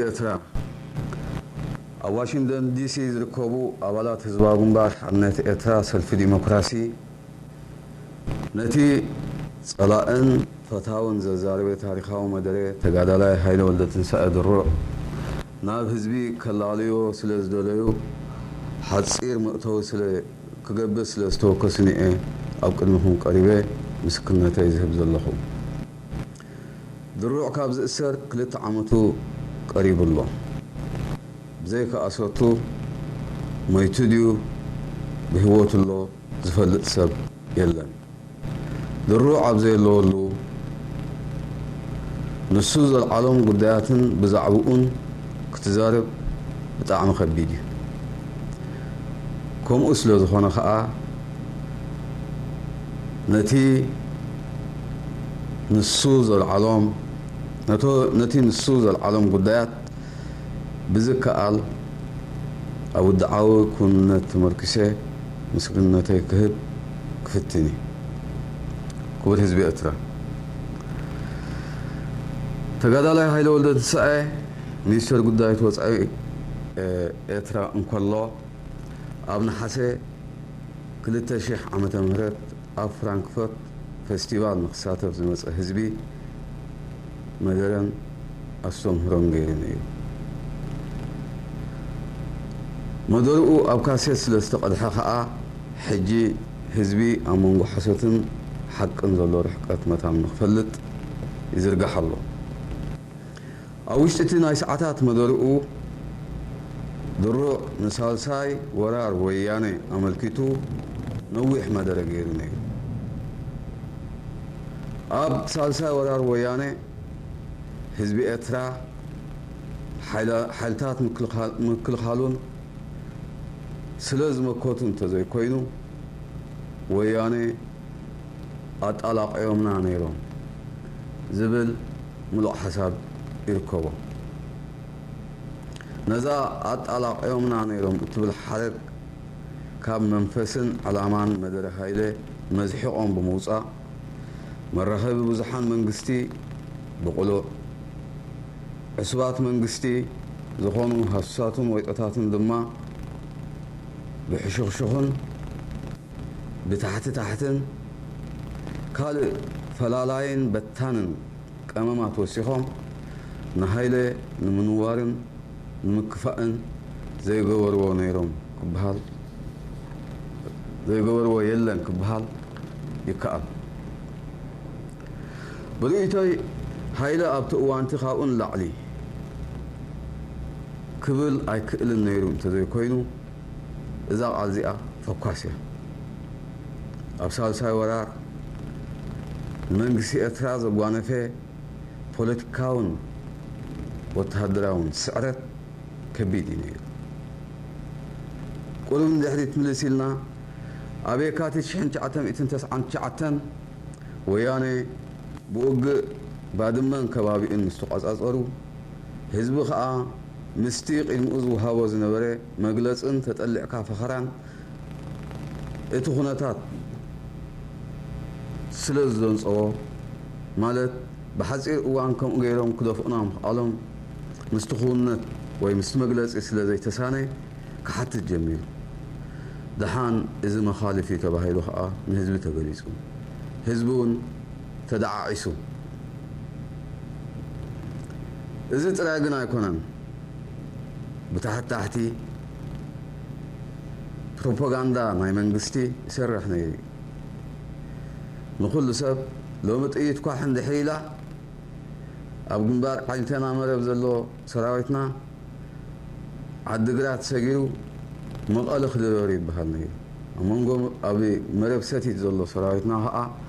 ኤርትራ ኣብ ዋሽንግተን ዲሲ ዝርከቡ ኣባላት ህዝባዊ ግንባር ሓርነት ኤርትራ ሰልፊ ዲሞክራሲ ነቲ ጸላእን ፈታውን ዘዛረበ ታሪኻዊ መደረ ተጋዳላይ ሃይለ ወልደትንሳኤ ድሩዕ ናብ ህዝቢ ከላልዮ ስለ ዝደለዩ ሓጺር መእተዊ ስለ ክገብር ስለ ዝተወከሱኒ'የ ኣብ ቅድሚኹም ቀሪበ ምስክርነተይ ዝህብ ዘለኹ። ድሩዕ ካብ ዝእሰር ክልተ ዓመቱ ቀሪቡ ኣሎ። ብዘይካ ኣሰርቱ ሞይቱ ድዩ ብህይወቱ ኣሎ ዝፈልጥ ሰብ የለን። ድሩዕ ኣብ ዘየለወሉ ንሱ ዘልዓሎም ጉዳያትን ብዛዕብኡን ክትዛረብ ብጣዕሚ ከቢድ እዩ። ከምኡ ስለ ዝኾነ ከኣ ነቲ ንሱ ዘልዓሎም ነቶ ነቲ ንሱ ዘልዓሎም ጉዳያት ብዝከኣል ኣብ ውድዓዊ ክውንነት ተመርኪሰ ምስግንነተይ ክህብ ክፍትን እየ። ክቡር ህዝቢ ኤርትራ። ተጋዳላይ ሃይለ ወልደትንሳኤ ሚኒስተር ጉዳይት ወጻኢ ኤርትራ እንከሎ፣ ኣብ ነሓሰ ክልተ ሽሕ ዓመተ ምህረት ኣብ ፍራንክፈርት ፈስቲቫል ንክሳተፍ ዝመጸ ህዝቢ መደረን ኣስተምህሮን ገይሩን እዩ። መደርኡ ኣብ ካሴት ስለ ዝተቐድሐ ከኣ ሕጂ ህዝቢ ኣብ መንጎ ሓሶትን ሓቅን ዘሎ ርሕቀት መታን ንክፈልጥ ይዝርጋሕ ኣሎ። ኣብ ውሽጢ እቲ ናይ ሰዓታት መደርኡ፣ ድሩዕ ንሳልሳይ ወራር ወያነ ኣመልኪቱ ነዊሕ መደረ ገይሩ ነይሩ። ኣብ ሳልሳይ ወራር ወያነ፣ ህዝቢ ኤርትራ፣ ሓይልታት ምክልኻሉን ስለ ዝመከቱ እንተዘይኮይኑ፣ ወያነ፣ ኣጣላቒዮምና ነይሮም ዝብል ምሉእ ሓሳብ ይርከቦ። ነዛ ኣጣላቒዮምና ነይሮም እትብል ሓረግ ካብ መንፈስን ዕላማን መደረ ሃይለ መዝሒቖም ብምውጻእ፣ መራኸቢ ብዙሓን መንግስቲ ብቕሉዕ፣ ዕሱባት መንግስቲ ዝኾኑ ሃሱሳትን ወይጦታትን ድማ ብሕሹኽሹኽን፣ ብታሕቲ ታሕትን ካልእ ፈላላይን በታንን ቀመማት ወሲኾም ንሃይለ ንምንዋርን ንምክፋእን ዘይገበርዎ ነይሮም ክበሃል ዘይገበርዎ የለን ክበሃል ይከኣል። ብርእይቶይ ሃይለ ኣብቲ እዋንቲ ካብኡ ንላዕሊ ክብል ኣይክእልን ነይሩ እንተዘይኮይኑ፣ እዛ ቃል እዚኣ ፈኳስ እያ። ኣብ ሳልሳይ ወራር ንመንግስቲ ኤርትራ ዘጓነፈ ፖለቲካውን ወተሃደራውን ስዕረት ከቢድ እዩ ነይሩ። ቁሩብ ንድሕሪት ምልስ ኢልና ኣብ የካቲት ሽሕን ትሽዓተ ሚእትን ተስዓን ትሽዓተን ወያነ ብውግእ ባድመን ከባቢኡን ምስ ተቖጻጸሩ፣ ህዝቢ ከኣ ምስቲ ቂድምኡ ዝወሃቦ ዝነበረ መግለጽን ተጠሊዕካ ፈኸራን እቲ ኩነታት ስለ ዝደንጸዎ ማለት ብሓጺር እዋን ከምኡ ገይሮም ክደፍኡና ምኽኣሎም ምስቲ ክውንነት ወይ ምስቲ መግለጺ ስለ ዘይተሳነ ክሓትት ጀሚሩ። ደሓን እዚ መኻልፍ እዩ ተባሂሉ ከኣ ንህዝቢ ተገሊጹ። ህዝቢውን። ተደዓዒሱ። እዚ ጥራይ ግን ኣይኮነን፣ ብታሕታሕቲ ፕሮፖጋንዳ ናይ መንግስቲ ይሰርሕ ነይሩ እዩ። ንኹሉ ሰብ ሎሚ ጥይት ኳሕ እንድሕር ኢላ ኣብ ግንባር ዓኝተና መረብ ዘሎ ሰራዊትና ዓዲግራት ሰጊሩ መቐለ ክድረር ይበሃል ነይሩ። ኣብ መንጎ ኣብ መረብ ሰቲት ዘሎ ሰራዊትና ከኣ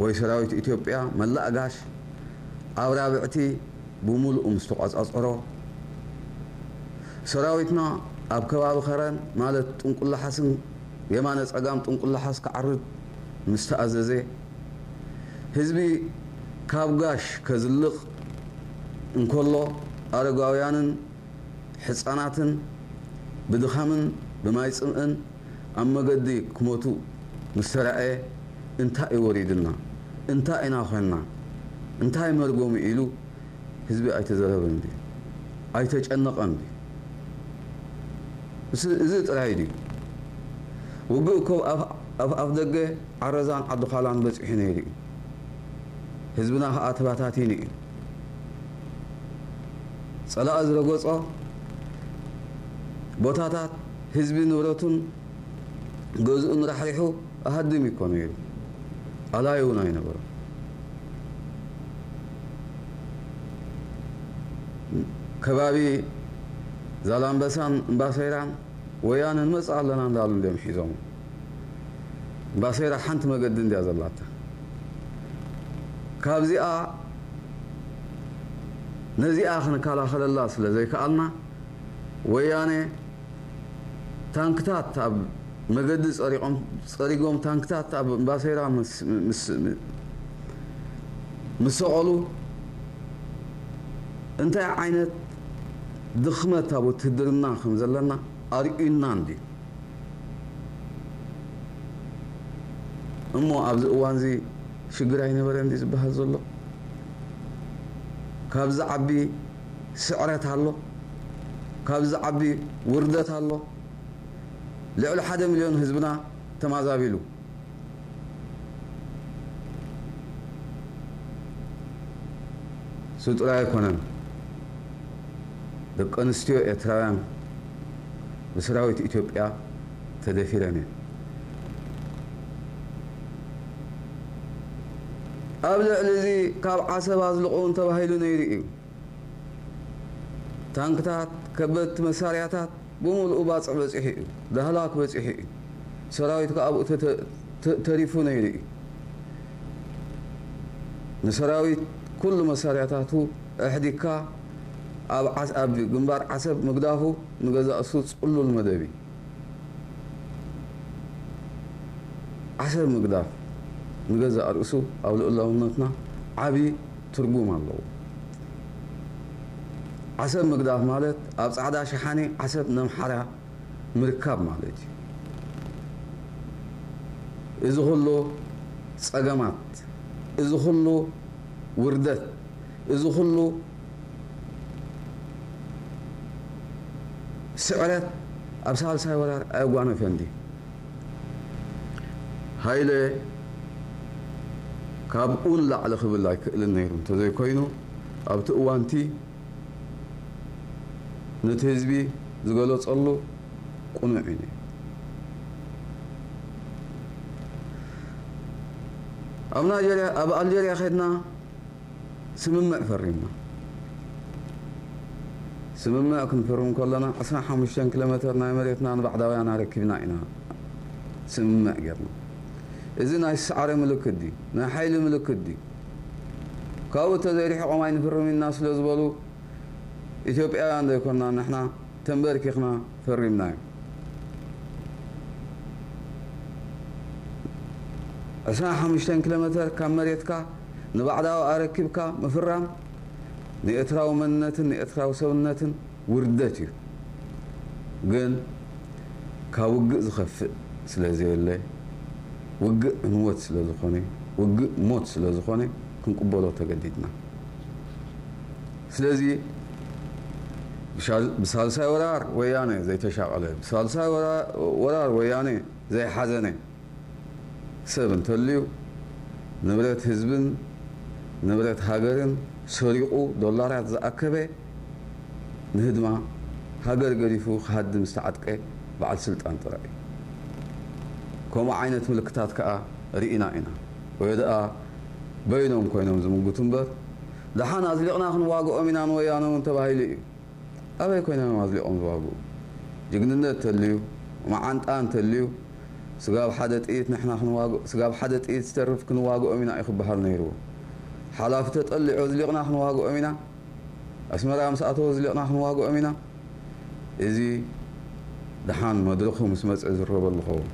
ወይ ሰራዊት ኢትዮጵያ መላእ ጋሽ ኣብ ራብዕቲ ብሙሉኡ ምስ ተቆጻጸሮ፣ ሰራዊትና ኣብ ከባቢ ከረን ማለት ጥንቁላሓስን የማነ ጸጋም ጥንቁላሓስ ክዓርድ ምስ ተኣዘዘ፣ ህዝቢ ካብ ጋሽ ከዝልቕ እንከሎ ኣረጋውያንን ሕጻናትን ብድኻምን ብማይ ጽምእን ኣብ መገዲ ክሞቱ ምስ ተራእየ እንታይ እዩ ወሪዱና? እንታይ ኢና ኮንና? እንታይ መርገሙ ኢሉ ህዝቢ ኣይተዘረበን ድዩ? ኣይተጨነቐን ድዩ? እዚ ጥራይ ድዩ? ውግእ እኮ ኣብ ኣፍደገ ዓረዛን ዓዲዃላን በጺሑ ነይሩ እዩ። ህዝብና ከኣ ተበታቲኑ እዩ። ጸላኢ ዝረገጾ ቦታታት፣ ህዝቢ ንብረቱን ገዝኡን ራሕሪሑ ኣሃድም እዩ እኮ ነይሩ። ኣላዩ እውን ኣይነበሮን። ከባቢ ዛላምበሳን እምባሰይራን ወያነ ንመጽእ ኣለና እንዳበሉ እንድዮም ሒዞሞ። ባሴራ ሓንቲ መገዲ እንድያ ዘላታ ካብዚኣ ነዚኣ ክንከላኸለላ ስለ ዘይከኣልና ወያኔ ታንክታት ኣብ መገዲ ጸሪቆም ጸሪጎም ታንክታት ኣብ ባሴራ ምስ ሰቐሉ እንታይ ዓይነት ድኽመት ኣብ ውትህድርና ከም ዘለና ኣርእዩና እንድዩ። እሞ ኣብዚ እዋንዚ ሽግር ኣይነበረን ድዩ ዝበሃል ዘሎ? ካብ ዝዓቢ ስዕረት ኣሎ? ካብ ዝዓቢ ውርደት ኣሎ? ልዕሊ ሓደ ሚልዮን ህዝብና ተማዛቢሉ። እሱ ጥራይ ኣይኮነን፣ ደቀንስትዮ ኤርትራውያን፣ ብስራዊት ኢትዮጵያ ተደፊረን እየን። ኣብ ልዕሊ እዚ ካብ ዓሰብ ኣዝልቑ ተባሂሉ ነይሩ እዩ። ታንክታት፣ ከበድቲ መሳርያታት ብምሉኡ ባጽዕ በጺሑ እዩ። ዳህላክ በጺሑ እዩ። ሰራዊት ከኣ ኣብኡ ተሪፉ ነይሩ እዩ። ንሰራዊት ኩሉ መሳርያታቱ ኣሕዲግካ፣ ኣብ ግንባር ዓሰብ ምግዳፉ ንገዛእሱ ጽሉል መደብ ኢዩ። ዓሰብ ምግዳፍ ንገዛእ ርእሱ ኣብ ልኡላውነትና ዓቢ ትርጉም ኣለዎ። ዓሰብ ምግዳፍ ማለት ኣብ ጻዕዳ ሸሓኒ ዓሰብ ነምሓራ ምርካብ ማለት ኢዩ። እዚ ኩሉ ጸገማት እዚ ኩሉ ውርደት፣ እዚ ኩሉ ስዕረት ኣብ ሳልሳይ ወራር ኣየጓነፈን ድዩ? ሃይለ ካብኡ ንላዕሊ ክብል ኣይክእልን ነይሩ እንተዘይኮይኑ ኣብቲ እዋንቲ ነቲ ህዝቢ ዝገለጸሉ ቅኑዕ እዩ ነይሩ። ኣብ ናይጀርያ ኣብ ኣልጀርያ ከድና ስምምዕ ፈሪምና። ስምምዕ ክንፍርም ከሎና ዕስራን ሓሙሽተን ኪሎሜተር ናይ መሬትና ንባዕዳውያን ኣረኪብና ኢና ስምምዕ ጌርና። እዚ ናይ ሳዕሪ ምልክት ድዩ? ናይ ሓይሊ ምልክት ድዩ? ካብኡ እንተዘይርሒቖም ኣይንፍርምን ኢና ስለ ዝበሉ ኢትዮጵያውያን ዶ ኣይኮናን ንሕና ተምበርኪኽና ፈሪምናዮ። ዕስራን ሓሙሽተን ኪሎሜተር ካብ መሬትካ ንባዕዳዊ ኣረኪብካ ምፍራም ንኤርትራዊ መንነትን ንኤርትራዊ ሰብነትን ውርደት እዩ። ግን ካብ ውግእ ዝኸፍእ ስለዘየለ ውግእ ዕንወት ስለዝኾነ ውግእ ሞት ስለዝኾነ ክንቅበሎ ተገዲድና። ስለዚ ብሳልሳይ ወራር ወያነ ዘይተሻቐለ ብሳልሳይ ወራር ወያነ ዘይሓዘነ፣ ሰብ እንተልዩ ንብረት ህዝብን ንብረት ሃገርን ሰሪቑ ዶላራት ዝኣከበ ንህድማ ሃገር ገዲፉ ክሃድም ዝተዓጥቀ በዓል ስልጣን ጥራይ እዩ። ከምኡ ዓይነት ምልክታት ከኣ ርኢና ኢና። ወይድኣ በይኖም ኮይኖም ዝምጉቱ እምበር ደሓን ኣዝሊቕና ክንዋግኦም ኢና ንወያነ እውን ተባሂሉ እዩ። ኣበይ ኮይኖም እዮም ኣዝሊቖም ዝዋግኡ? ጅግንነት ተልዩ፣ መዓንጣ እንተልዩ፣ ስጋብ ሓደ ጥይት ንሕና ክንዋግኦ ስጋብ ሓደ ጥይት ዝተርፍ ክንዋግኦም ኢና እዩ ክበሃል ነይርዎ። ሓላፊ ተጠሊዑ ኣዝሊቕና ክንዋግኦም ኢና፣ ኣስመራ ምስ ኣተወ ኣዝሊቕና ክንዋግኦም ኢና፣ እዚ ደሓን መድረኹ ምስ መጸ ይዝረበሉ ክኸውን።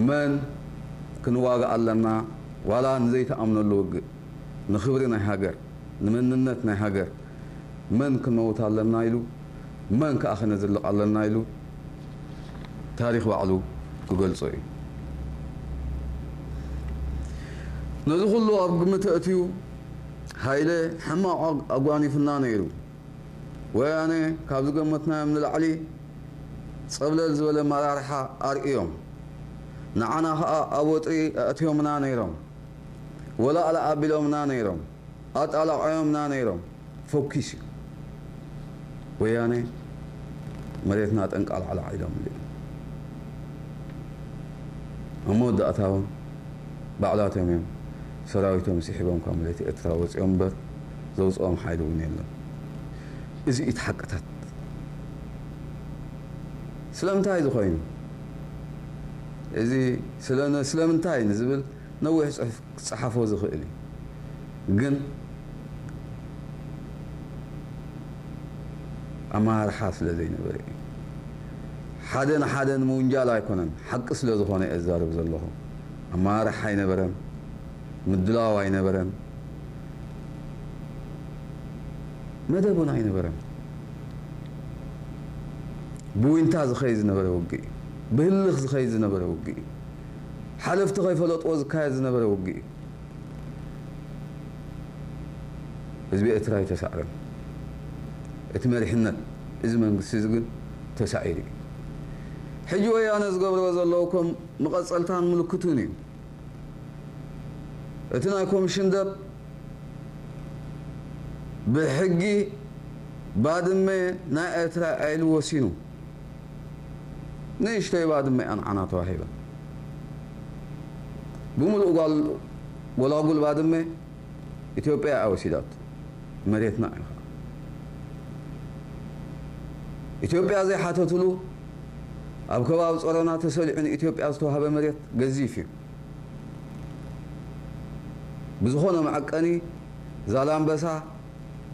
መን ክንዋጋእ ኣለና ዋላ ንዘይትኣምነሉ ውግእ ንኽብሪ ናይ ሃገር ንመንነት ናይ ሃገር መን ክንመውት ኣለና ኢሉ መን ከኣ ክነዝልቕ ኣለና ኢሉ ታሪኽ ባዕሉ ክገልጾ እዩ። ነዚ ኩሉ ኣብ ግምት ኣእትዩ ሃይለ ሕማቕ ኣጓኒፉና ነይሩ። ወያነ ካብ ዝገመትናዮም ንላዕሊ ጸብለል ዝበለ ኣመራርሓ ኣርእዮም። ንዓና ከኣ ኣብ ወጥሪ ኣእትዮምና ነይሮም። ወላእላእ ኣቢሎምና ነይሮም። ኣጣላቕዖምና ነይሮም። ፈኲስ እዩ። ወያነ መሬትና ጠንቃልዓላዕ ኢሎምሉ እዮም። ኣብ መወዳእታ እውን ባዕላቶም እዮም ሰራዊቶም ስሒቦም ካብ መሬት ኤርትራ ወጺኦም እምበር ዘውጽኦም ሓይሊ እውን የለን። እዚ እዩ እቲ ሓቅታት። ስለምንታይ እዚ ኮይኑ? እዚ ስለምንታይ ንዝብል ነዊሕ ጽሑፍ ክጸሓፎ ዝኽእል እዩ ግን ኣመራርሓ ስለ ዘይነበረ እዩ ሓደ ንሓደ ንምውንጃል ኣይኮነን ሓቂ ስለ ዝኾነ እየ ዝዛረብ ዘለኹ ኣመራርሓ ኣይነበረን ምድላው ኣይነበረን መደብ ውን ኣይነበረን ብዊንታ ዝኸይድ ዝነበረ ውግእ እዩ ብህልኽ ዝኸይድ ዝነበረ ውግእ እዩ ሓለፍቲ ከይፈለጥዎ ዝካየድ ዝነበረ ውግእ እዩ። ህዝቢ ኤርትራ ኣይተሳዕረን። እቲ መሪሕነት እዚ መንግስቲ እዚ ግን ተሳዒሩ እዩ። ሕጂ ወያነ ዝገብርዎ ዘለዉ ከም መቐጸልታን ምልክቱን እዩ። እቲ ናይ ኮምሽን ደብ ብሕጊ ባድመ ናይ ኤርትራ እያ ኢሉ ወሲኑ። ንእሽተይ ባድመ'ያ ንዓና ተዋሂባ። ብምሉኡ ጓል ጎላጉል ባድመ ኢትዮጵያ'ያ ወሲዳቶ። መሬትና'ዩ ከኣ። ኢትዮጵያ ዘይሓተትሉ ኣብ ከባቢ ጾሮና ተሰሊዑ ንኢትዮጵያ ዝተዋህበ መሬት ገዚፍ'ዩ። ብዝኾነ መዐቀኒ ዛላምበሳ፣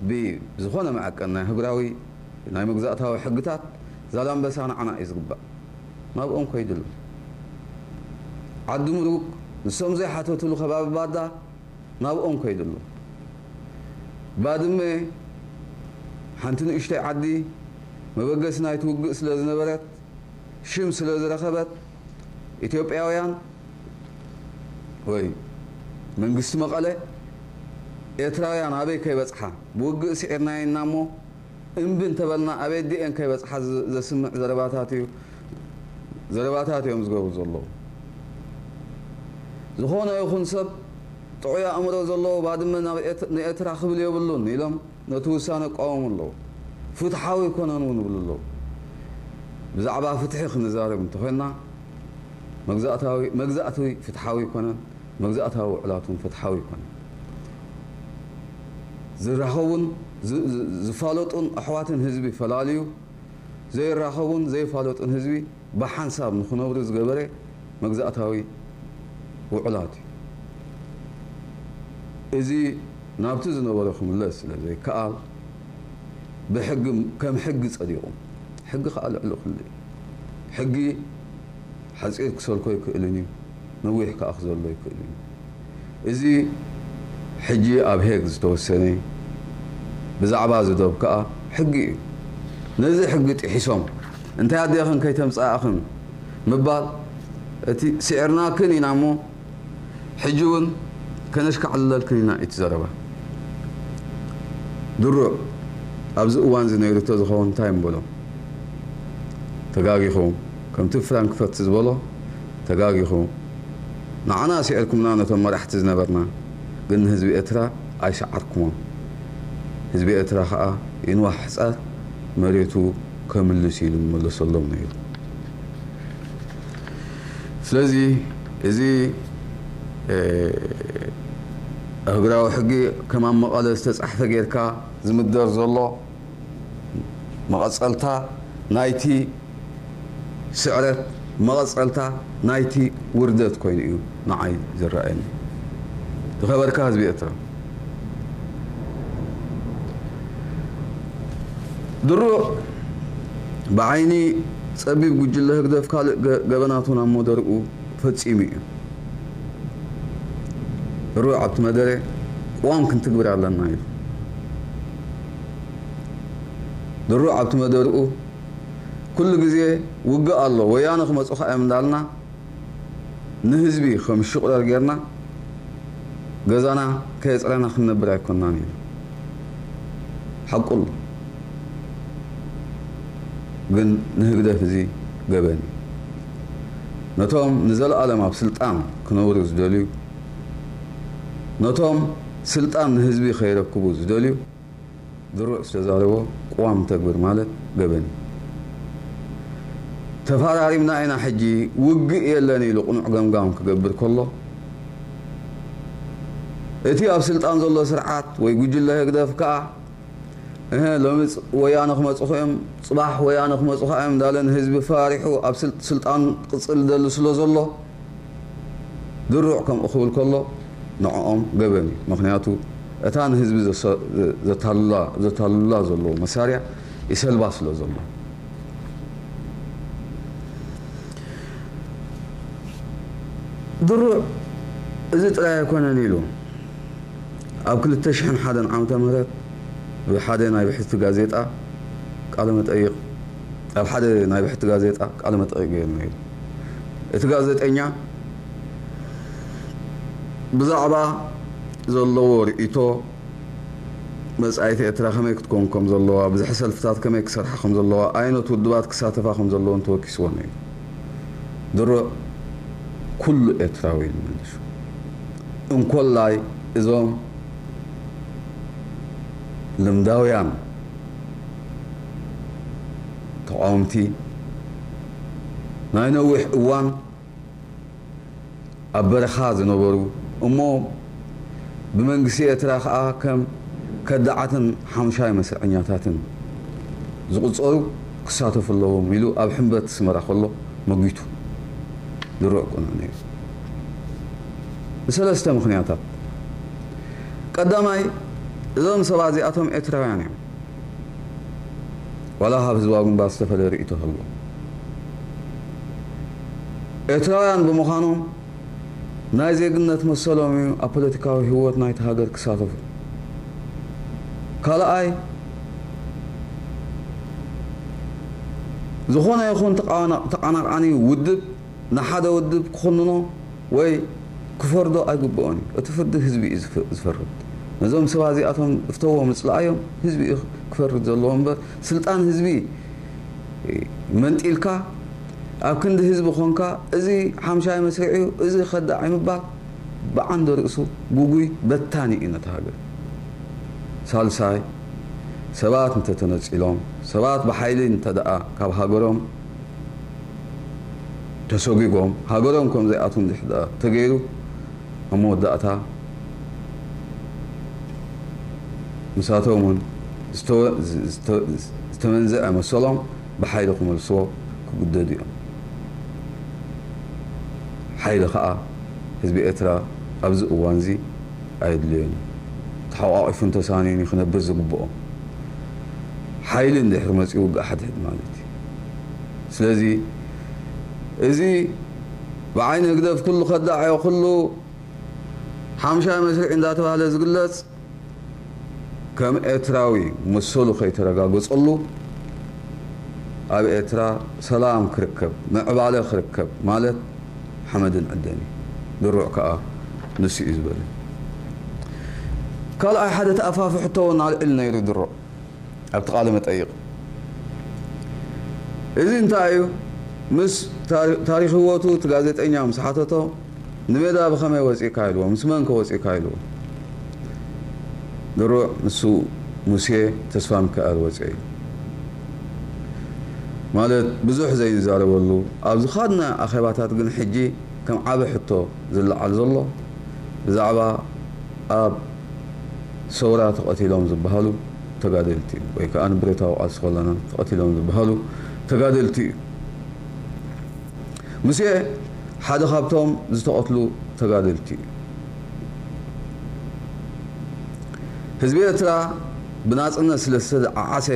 ብዝኾነ መዐቀን ናይ ኣህጉራዊ ናይ መግዛእታዊ ሕግታት ዛላምበሳ ንዓና እዩ ዝግባእ ናብኦም ከይድሉ ዓዲ ምሩግ ንሶም ዘይሓተትሉ ከባቢ ባዳ ናብኦም ከይድሉ ባድመ ሓንቲ ንእሽተይ ዓዲ መበገሲ ናይቲ ውግእ ስለ ዝነበረት ሽም ስለ ዝረኸበት ኢትዮጵያውያን ወይ መንግስቲ መቐለ ኤርትራውያን ኣበይ ከይበጽሓ ብውግእ ስዒርናየን ኢና እሞ እምቢ እንተበልና ኣበይ ዲየን ከይበጽሓ ዘስምዕ ዘረባታት እዩ ዘረባታት እዮም ዝገብሩ ዘለዉ። ዝኾነ ይኹን ሰብ ጥዑይ ኣእምሮ ዘለዎ ባድመ ንኤርትራ ክብል የብሉን ኢሎም ነቲ ውሳነ እቃወሙ ኣለዉ። ፍትሓዊ ኣይኮነን እውን ይብሉ ኣለዉ። ብዛዕባ ፍትሒ ክንዛረብ እንተኾይንና መግዛእታዊ መግዛእቲ ፍትሓዊ ኣይኮነን፣ መግዛእታዊ ውዕላት እውን ፍትሓዊ ኣይኮነን። ዝራኸቡን ዝፋለጡን ኣሕዋትን ህዝቢ ፈላልዩ፣ ዘይራኸቡን ዘይፋለጡን ህዝቢ፣ ብሓንሳብ ንክነብሩ ዝገበረ መግዛእታዊ ውዑላት እዩ። እዚ ናብቲ ዝነበሮ ክምለስ ስለዘይከኣል ብሕጊ ከም ሕጊ ጸዲቑ። ሕጊ ከኣ ልዕሊ ኩሉ እዩ። ሕጊ ሓጺር ክሰልኮ ይክእልን እዩ፣ ነዊሕ ከኣ ክዘሎ ይክእልን እዩ። እዚ ሕጂ ኣብ ሄግ ዝተወሰነ ብዛዕባ እዚ ዶብ ከኣ ሕጊ እዩ። ነዚ ሕጊ ጢሒሶም እንታይ ኣዴኽን ከይተምጻእክን ምባል እቲ ስዒርናክን ኢና እሞ ሕጂ ውን ከነሽካዕልለልክን ኢና እዩ እቲ ዘረባ። ድሩዕ ኣብዚ እዋንዚ ነይሩ ተዝኸውን እንታይ ምበሎ? ተጋጊኹም ከምቲ ፍራንክፈርት ዝበሎ ተጋጊኹም። ንዓና ሲዕርኩምና ነቶም መራሕቲ ዝነበርና ግን ንህዝቢ ኤርትራ ኣይሰዓርኩሞን ህዝቢ ኤርትራ ከኣ ይንዋሕ ሕጻር መሬቱ ከምልስ ኢሉ መለሰሎም ነይሩ ስለዚ እዚ ኣህግራዊ ሕጊ ከም ኣብ መቐለ ዝተጻሕፈ ጌርካ ዝምደር ዘሎ መቐጸልታ ናይቲ ስዕረት መቐጸልታ ናይቲ ውርደት ኮይኑ እዩ ንዓይ ዝረኣየኒ። ዝኸበርካ ህዝቢ ኤርትራ። ድሩዕ ብዓይኒ ጸቢብ ጉጅለ ህግደፍ ካልእ ገበናቱ ናብ መደርኡ ፈጺሙ እዩ። ድሩዕ ኣብቲ መደረ ቅዋም ክንትግብር ኣለና ኢሉ። ድሩዕ ኣብቲ መደርኡ ኩሉ ግዜ ውግእ ኣሎ ወያነ ክመጹኻ እዮም እንዳልና ንህዝቢ ከም ሽቁለል ጌርና ገዛና ከየጽረና ክንነብር ኣይኮናን ኢሉ ሓቁ ኣሎ ግን ንህግደፍ እዚ ገበን እዩ ነቶም ንዘልኣለም ኣብ ስልጣን ክነብሩ ዝደልዩ ነቶም ስልጣን ንህዝቢ ከይረክቡ ዝደልዩ ድሩዕ ዝተዛረቦ ቅዋም ተግብር ማለት ገበን እዩ። ተፋራሪምና ኢና ሕጂ ውግእ የለን ኢሉ ቅኑዕ ገምጋም ክገብር ከሎ እቲ ኣብ ስልጣን ዘሎ ስርዓት ወይ ጉጅለ ህግደፍ ከኣ እህ ሎሚ ወያነ ክመጹኹ እዮም ጽባሕ ወያነ ክመጹኻ እዮም እንዳለ ንህዝቢ ፈራሪሑ ኣብ ስልጣን ክቕጽል ዝደሊ ስለዘሎ ድሩዕ ከምኡ ክብል ከሎ ንዕኦም ገበን እዩ ምኽንያቱ እታ ንህዝቢ ዘታልሉላ ዘለዉ መሳርያ ይሰልባ ስለ ዘሎ። ድሩዕ እዚ ጥራይ ኣይኮነን ኢሉ። ኣብ ክልተ ሽሕን ሓደን ዓመተ ምህረት ብሓደ ናይ ብሕቲ ጋዜጣ ቃለ መጠይቕ ኣብ ሓደ ናይ ብሕቲ ጋዜጣ ቃለ መጠይቕ ገይሩ ነይሩ። እቲ ጋዜጠኛ ብዛዕባ ዘለዎ ርእይቶ መጻኢት ኤርትራ ከመይ ክትከውን ከም ዘለዋ፣ ብዝሒ ሰልፍታት ከመይ ክሰርሓ ከም ዘለዋ፣ ኣይነት ውድባት ክሳተፋ ከም ዘለወን ተወኪስዎ ነይሩ። ድሮ ኩሉ ኤርትራዊ ኢሉ መሊሱ። እንኮላይ እዞም ልምዳውያን ተቓወምቲ ናይ ነዊሕ እዋን ኣብ በረኻ ዝነበሩ እሞ ብመንግስቲ ኤርትራ ከኣ ከም ከዳዓትን ሓሙሻይ መስርዐኛታትን ዝቑጸሩ ክሳተፉ ኣለዎም ኢሉ ኣብ ሕምበት ኣስመራ ከሎ መጒቱ። ድሩዕ ቁኑዕ ነይሩ። ብሰለስተ ምኽንያታት። ቀዳማይ እዞም ሰባት'ዚኣቶም ኤርትራውያን እዮም። ዋላ ካብ ህዝባዊ ግንባር ዝተፈልየ ርእይቶ ሃልዎም ኤርትራውያን ብምዃኖም ናይ ዜግነት መሰሎም እዩ ኣብ ፖለቲካዊ ህይወት ናይቲ ሃገር ክሳተፉ። ካልኣይ ዝኾነ ይኹን ተቓናቓኒ ውድብ ንሓደ ውድብ ክኹንኖ ወይ ክፈርዶ ኣይግብኦን እዩ። እቲ ፍርዲ ህዝቢ እዩ ዝፈርድ። ነዞም ሰባት እዚኣቶም እፍተዎም እጽልኣዮም ህዝቢ እዩ ክፈርድ ዘለዎ እምበር ስልጣን ህዝቢ መንጢልካ ኣብ ክንዲ ህዝቢ ኮንካ እዚ ሓምሻይ መስርዕ እዩ እዚ ከዳዕ እዩ ምባል ብዓንደ ርእሱ ጉጉይ በታኒ እዩ ነታ ሃገር። ሳልሳይ ሰባት እንተተነጺሎም ሰባት ብሓይሊ እንተድኣ ካብ ሃገሮም ተሶጊጎም ሃገሮም ከም ዘይኣትዉ እንድሕር ተገይሩ ኣብ መወዳእታ ንሳቶም ውን ዝተመንዘዐ መሰሎም ብሓይሊ ክመልስዎ ክግደዱ እዮም። ሓይሊ ከኣ ህዝቢ ኤርትራ ኣብዚ እዋንዚ ኣየድልዮን እዩ። ተሓቋቒፉን ተሳንዩን እዩ ክነብር ዝግብኦ። ሓይሊ እንድሕር መጽዩ ውግእ ሓድሕድ ማለት እዩ። ስለዚ እዚ ብዓይኒ ህግደፍ ኩሉ ከዳዕዮ ኩሉ ሓምሻይ መስርዒ እንዳተባህለ ዝግለጽ ከም ኤርትራዊ መሰሉ ከይተረጋገጸሉ ኣብ ኤርትራ ሰላም ክርከብ ምዕባለ ክርከብ ማለት ሓመድን ዕደን እዩ። ድሩዕ ከኣ ንሱ እዩ ዝበለ። ካልኣይ ሓደ ተኣፋፊ ሕቶ ውን ኣልዒሉ ነይሩ ድሩዕ። ኣብቲ ቃለ-መጠይቕ፣ እዚ እንታይ እዩ? ምስ ታሪኽ ህይወቱ እቲ ጋዜጠኛ ምስ ሓተቶ፣ ንሜዳ ብኸመይ ወጺእካ ኢልዎ፣ ምስ መንከ ወጺእካ ኢልዎ፣ ድሩዕ ንሱ ሙሴ ተስፋሚካኤል ወጺኦ ኢሉ። ማለት ብዙሕ ዘይንዛረበሉ፣ ኣብ ዝኻድናዮ ኣኼባታት ግን ሕጂ ከም ዓቢ ሕቶ ዝለዓል ዘሎ፣ ብዛዕባ ኣብ ሰውራ ተቐቲሎም ዝበሃሉ፣ ተጋደልቲ እዩ ወይ ከኣ ንብረታዊ ቃልሲ ከለና ተቐቲሎም ዝበሃሉ ተጋደልቲ እዩ። ሙሴ ሓደ ካብቶም ዝተቐትሉ ተጋደልቲ እዩ። ህዝቢ ኤርትራ ብናጽነት ስለ ዝተዓዓሰ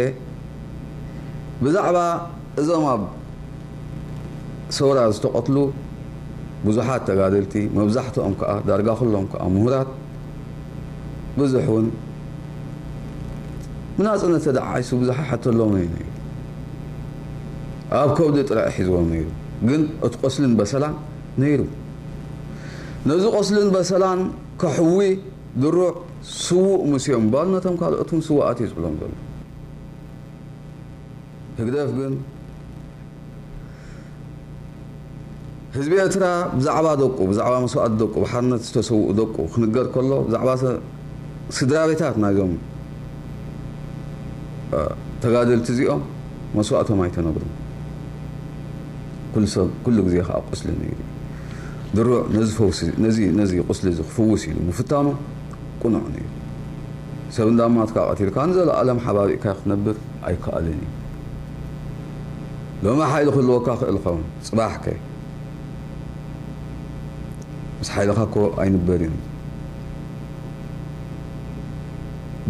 ብዛዕባ እዞም ኣብ ሰውራ ዝተቐትሉ ብዙሓት ተጋደልቲ መብዛሕትኦም ከኣ ዳርጋ ኩሎም ከኣ ምሁራት ብዙሕ ውን ብናጽነት ተደዓዒሱ ብዙሕ ኣይሓተሎምን እዩ ነይሩ ኣብ ከብዱ ጥራይ እዩ ሒዝዎ ነይሩ ግን እቲ ቆስልን በሰላን ነይሩ ነዚ ቆስልን በሰላን ከሕዊ ድሩዕ ስዉእ ሙሴ እምባል ነቶም ካልኦት ውን ስዉኣት እዩ ዝብሎም ዘሎ። ህግደፍ ግን ህዝቢ ኤርትራ ብዛዕባ ደቁ ብዛዕባ መስዋእቲ ደቁ ብሓርነት ዝተሰውኡ ደቁ ክንገር ከሎ ብዛዕባ ስድራ ቤታት ናይዞም ተጋደልቲ እዚኦም መስዋእቶም ኣይተነግሩ ኩሉ ግዜ ከዓ ቁስሊ ነይሩ ድሩዕ ነዚ ፈውሲ ነዚ ነዚ ቁስሊ እዚ ክፍውስ ኢሉ ምፍታኑ ቁኑዕ ንዩ ሰብ እንዳ ኣማትካ ቀቲልካ ንዘላኣለም ሓባቢእካዮ ክትነብር ኣይካኣልን እዩ ሎሚ ሓይሊ ክህልወካ ክእል ይከውን ፅባሕ ከ ምስ ሓይልካ እኮ ኣይንበር እዩ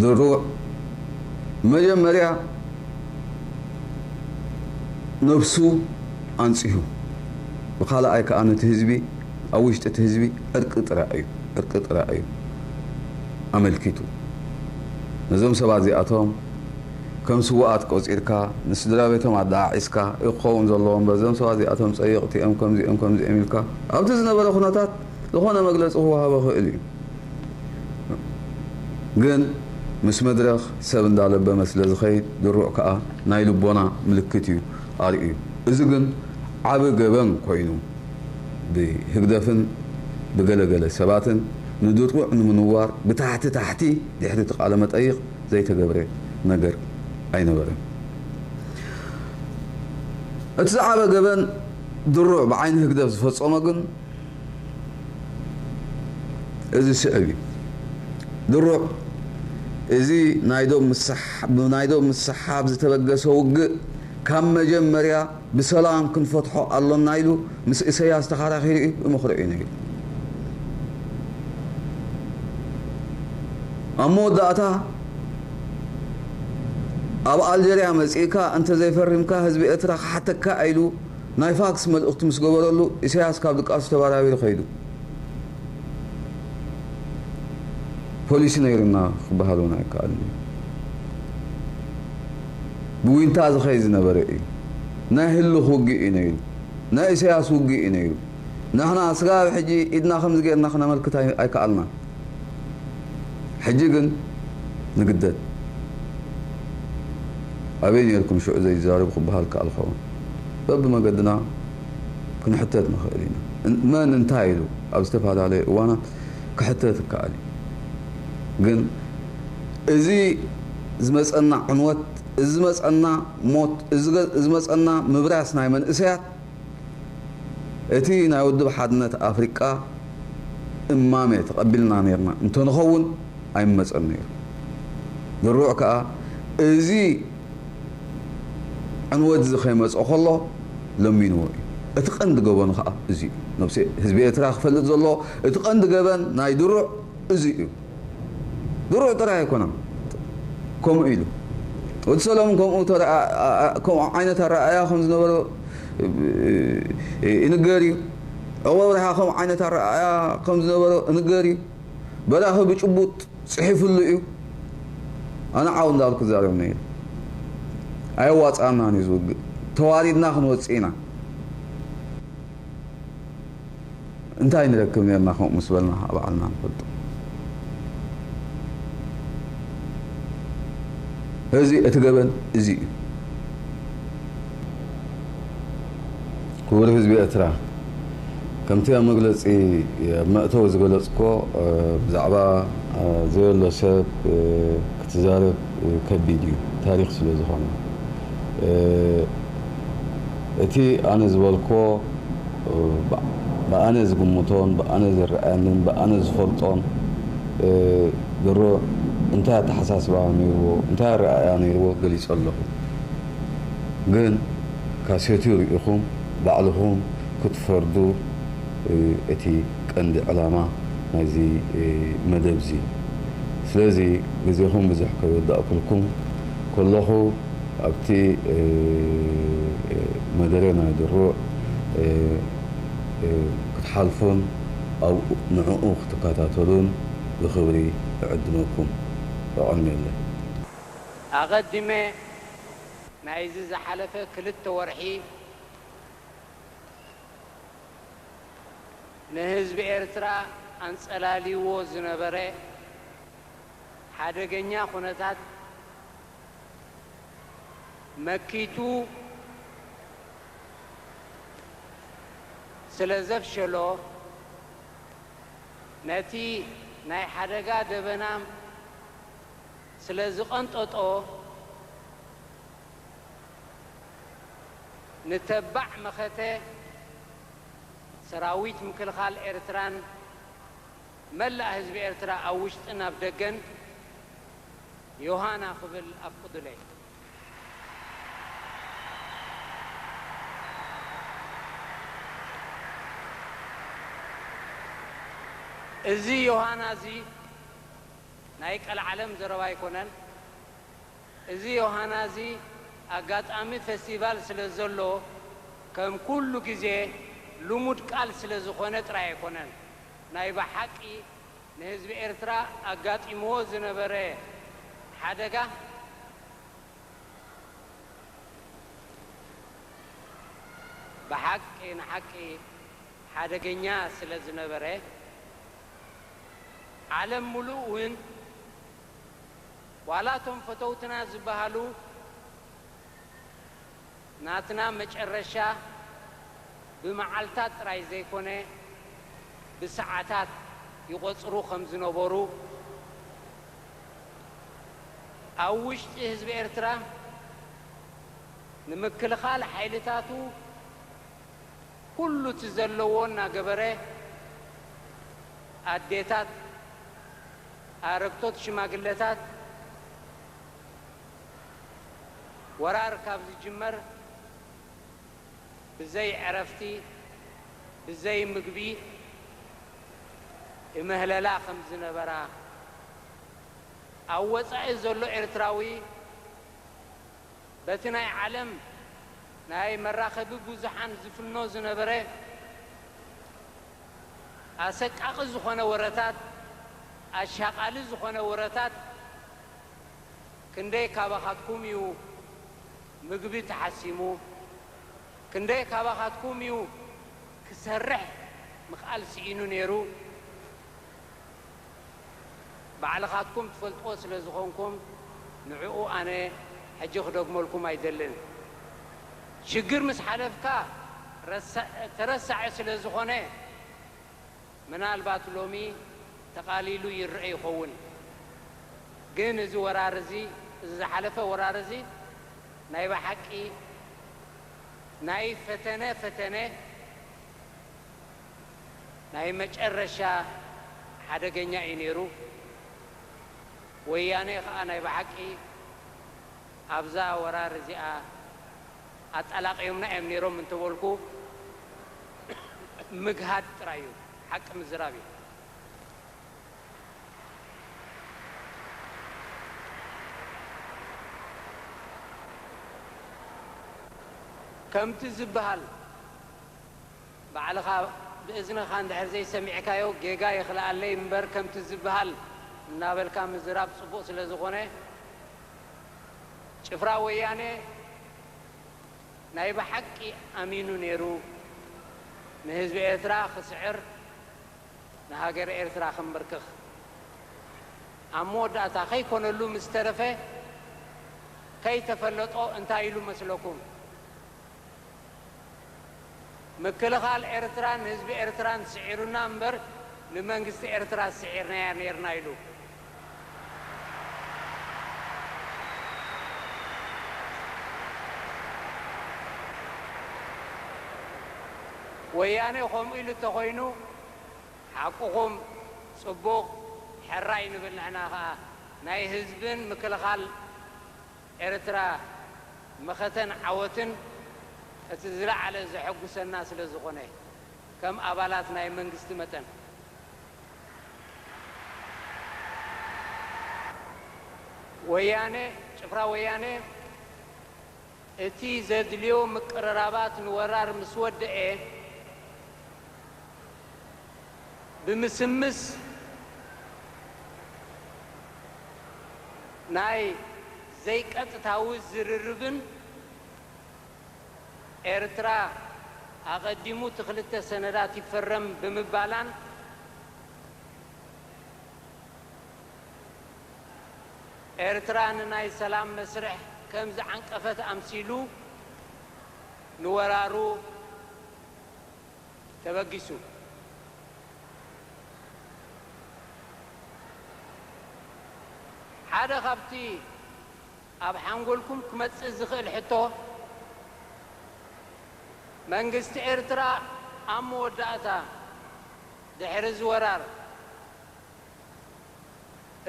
ድሩዕ መጀመርያ ነብሱ ኣንፅሁ ብካላኣይ ካኣ ነቲ ህዝቢ ኣብ ውሽጢ እቲ ህዝቢ ዕርቂ ጥራይ እዩ ዕርቂ ጥራይ እዩ ኣመልኪቱ ነዞም ሰባት እዚኣቶም ከም ስውኣት ቆጺርካ ንስድራቤቶም ኣደዓዒስካ እዩ ክኸውን ዘለዎ እምበር እዞም ሰባት እዚኣቶም ጸየቕቲ እዮም ከምዚ እዮም ከምዚ እዮም ኢልካ ኣብቲ ዝነበረ ኩነታት ዝኾነ መግለጺ ክወሃቦ ይኽእል እዩ ግን ምስ መድረኽ ሰብ እንዳለበመ ስለ ዝኸይድ ድሩዕ ከኣ ናይ ልቦና ምልክት እዩ ኣርእዩ እዚ ግን ዓቢ ገበን ኮይኑ ብህግደፍን ብገለ ገለ ሰባትን ንድሩዕ ንምንዋር ብታሕቲ ታሕቲ ድሕሪ እቲ ቃለ መጠይቕ ዘይተገብረ ነገር ኣይነበረን። እቲ ዝዓበ ገበን ድሩዕ ብዓይኒ ህግደፍ ዝፈጸሞ ግን እዚ ዝስዕብ እዩ። ድሩዕ እዚ ናይ ዶብ ምስሓብ ዝተበገሰ ውግእ ካብ መጀመርያ፣ ብሰላም ክንፈትሖ ኣሎና ኢሉ ምስ እሰያስ ተኻራኺሩ እዩ ይመኽሮ እዩ ነይሩ። ኣብ መወዳእታ ኣብ ኣልጀርያ መጺእካ እንተዘይፈሪምካ ህዝቢ ኤርትራ ክሓተካ ኢሉ ናይ ፋክስ መልእኽቱ ምስ ገበረሉ እሰያስ ካብ ድቃሱ ተባራቢሩ ከይዱ። ፖሊሲ ነይሩና ክበሃል እውን ኣይከኣልን እዩ። ብዊንታ ዝኸይድ ዝነበረ እዩ። ናይ ህልኽ ውግእ እዩ ነይሩ። ናይ ኢሳያስ ውግእ እዩ ነይሩ። ንሕና ስጋብ ሕጂ ኢድና ከምዚ ገይርና ክነመልክት ኣይከኣልናን። ሕጂ ግን ንግደድ። ኣበይ ነይርኩም ሽዑ ዘይትዛረቡ ክበሃል ይከኣል ክኸውን። በብመገድና። ክንሕተት ንኽእል ኢና። መን እንታይ ኢሉ ኣብ ዝተፈላለየ እዋናት ክሕተት ይከኣል እዩ። ግን እዚ ዝመጸና ዕንወት፣ እዚ ዝመጸና ሞት፣ እዚ ዝመጸና ምብራስ ናይ መንእሰያት እቲ ናይ ውድብ ሓድነት ኣፍሪቃ እማመ ተቐቢልና ኔርና እንተንኸውን ኣይመጸን ነይሩ። ድሩዕ ከኣ እዚ ዕንወትዚ ከይመጽኦ ከሎ ለሚንዎ እዩ። እቲ ቀንዲ ገበኑ ከኣ እዚ እዩ። ነብሲ ህዝቢ ኤርትራ ክፈልጥ ዘለዎ እቲ ቀንዲ ገበን ናይ ድሩዕ እዚ እዩ። ድሩዕ ጥራይ ኣይኮነን ከምኡ ኢሉ። ወዲ ሰለሙን ከምኡ ከምኡ ዓይነት ኣረኣእያ ከም ዝነበሮ ይንገር እዩ። ዑቕባብርሃ ከምኡ ዓይነት ኣረኣእያ ከም ዝነበሮ እንገር እዩ። በራኺ ብጭቡጥ ጽሒፍሉ እዩ ኣነ ዓው እንዳበልኩ እዛረብ ነይረ ኣየዋጽኣናን እዩ እዚ ውግእ ተዋሪድና ክንወጽእ ኢና እንታይ ንረክብ ነርና ከምኡ ምስ በልና ከኣ ባዕልና ንፈልጦ እዚ እቲ ገበን እዚ እዩ። ክቡር ህዝቢ ኤርትራ፣ ከምቲ ኣብ መግለጺ ኣብ መእተዊ ዝገለጽኩዎ ብዛዕባ ዘየሎ ሰብ ክትዛረብ ከቢድ እዩ ታሪኽ ስለ ዝኾነ። እቲ ኣነ ዝበልኩዎ ብኣነ ዝግምቶን ብኣነ ዝረኣየንን ብኣነ ዝፈልጦን ድሮ እንታይ ኣተሓሳስባ ኔርዎ እንታይ ኣረኣእያ ኔርዎ ገሊጸ ኣለኹ። ግን ካሴትዩ ሪኢኹም ባዕልኹም ክትፈርዱ ዩ እቲ ቀንዲ ዕላማ ናይዚ መደብዚ ስለዚ ግዜኹም ብዙሕ ከይወዳእኩልኩም ኮለኹ ኣብቲ መደረ ናይ ድሩዕ ክትሓልፉን ኣብኡ ንዕኡ ክትከታተሉን ብኽብሪ እዕድመኩም። የቐንየለይ። ኣቐዲመ ናይዚ ዝሓለፈ ክልተ ወርሒ ንህዝቢ ኤርትራ ኣንጸላልይዎ ዝነበረ ሓደገኛ ኩነታት መኪቱ ስለ ዘፍሸሎ፣ ነቲ ናይ ሓደጋ ደበና ስለ ዝቐንጠጦ ንተባዕ መኸተ ሰራዊት ምክልኻል ኤርትራን መላእ ህዝቢ ኤርትራ ኣብ ውሽጥን ኣብ ደገን ዮሃና ክብል ኣፍቕዱለይ። እዚ ዮሃና'ዚ። ናይ ቀልዓለም ዘረባ ኣይኮነን እዚ ዮሃና እዚ ኣጋጣሚ ፈስቲቫል ስለ ዘሎ ከም ኩሉ ግዜ ልሙድ ቃል ስለ ዝኾነ ጥራይ ኣይኮነን ናይ ብሓቂ ንህዝቢ ኤርትራ ኣጋጢምዎ ዝነበረ ሓደጋ ብሓቂ ንሓቂ ሓደገኛ ስለ ዝነበረ። ዓለም ሙሉእ ውን ዋላ እቶም ፈተውትና ዝባሃሉ ናትና መጨረሻ ብማዓልታት ጥራይ ዘይኮነ ብሳዓታት ይቆጽሩ ከም ዝነበሩ ኣብ ውሽጢ ህዝቢ ኤርትራ ንምክልኻል ሓይልታቱ ኩሉ እቲ ዘለዎ እናገበረ ኣዴታት፣ ኣረግቶት ሽማግለታት ወራር ካብ ዝጅመር ብዘይ ዕረፍቲ ብዘይ ምግቢ እምህለላ ከም ዝነበራ ኣብ ወጻኢ ዘሎ ኤርትራዊ በቲ ናይ ዓለም ናይ መራኸቢ ብዙሓን ዝፍኖ ዝነበረ ኣሰቃቒ ዝኾነ ወረታት፣ ኣሻቓሊ ዝኾነ ወረታት፣ ክንደይ ካባኻትኩም እዩ ምግቢ ተሓሲሙ፣ ክንደይ ካባኻትኩም እዩ ክሰርሕ ምኽኣል ስኢኑ ነይሩ፣ ባዕልኻትኩም ትፈልጥዎ ስለ ዝኾንኩም ንዕኡ ኣነ ሕጂ ክደግመልኩም ኣይደልን። ሽግር ምስ ሓለፍካ ረሳዕ ተረሳዒ ስለ ዝኾነ ምናልባት ሎሚ ተቓሊሉ ይረኣ ይኸውን ግን እዚ ወራር እዚ እዚ ዝሓለፈ ወራር እዚ ናይ ብሓቂ ናይ ፈተነ ፈተነ ናይ መጨረሻ ሓደገኛ እዩ ነይሩ። ወያኔ ከኣ ናይ ብሓቂ ኣብዛ ወራር እዚኣ ኣጣላቅዮምና እዮም ነይሮም እንተበልኩ ምግሃድ ጥራይ እዩ ሓቂ ምዝራብ እዩ። ከምቲ ዝብሃል ባዕልኻ ብእዝንኻ እንድሕር ዘይሰሚዕካዮ ጌጋ ይኽልኣለይ እምበር ከምቲ ዝብሃል እናበልካ ምዝራብ ፅቡቕ ስለዝኾነ ጭፍራ ወያነ ናይ ብሓቂ ኣሚኑ ነይሩ ንህዝቢ ኤርትራ ክስዕር ንሃገረ ኤርትራ ክምብርክኽ ኣብ መወዳእታ ከይኮነሉ ምስተረፈ ከይተፈለጦ እንታይ ኢሉ መስለኩም? ምክልኻል ኤርትራ ንህዝቢ ኤርትራን ስዒሩና እምበር ንመንግስቲ ኤርትራ ስዒርናያ ኔርና ኢሉ። ወያኔ ከምኡ ኢሉ እንተኾይኑ ሓቁኹም ጽቡቕ ሕራይ ንብል ንሕና ከኣ ናይ ህዝብን ምክልኻል ኤርትራ መኸተን ዓወትን እቲ ዝለዓለ ዘሐጉሰና ስለ ዝኾነ ከም ኣባላት ናይ መንግስቲ መጠን ወያነ ጭፍራ ወያነ እቲ ዘድልዮ ምቅርራባት ንወራር ምስ ወደኤ ብምስምስ ናይ ዘይቀጥታዊ ዝርርብን ኤርትራ ኣቐዲሙ እቲ ክልተ ሰነዳት ይፈረም ብምባላን፣ ኤርትራ ንናይ ሰላም መስርሕ ከም ዝዓንቀፈት ኣምሲሉ ንወራሩ፣ ተበጊሱ ሓደ ካብቲ ኣብ ሓንጎልኩም ክመጽእ ዝኽእል ሕቶ፣ መንግስቲ ኤርትራ ኣብ መወዳእታ ድሕሪ እዚ ወራር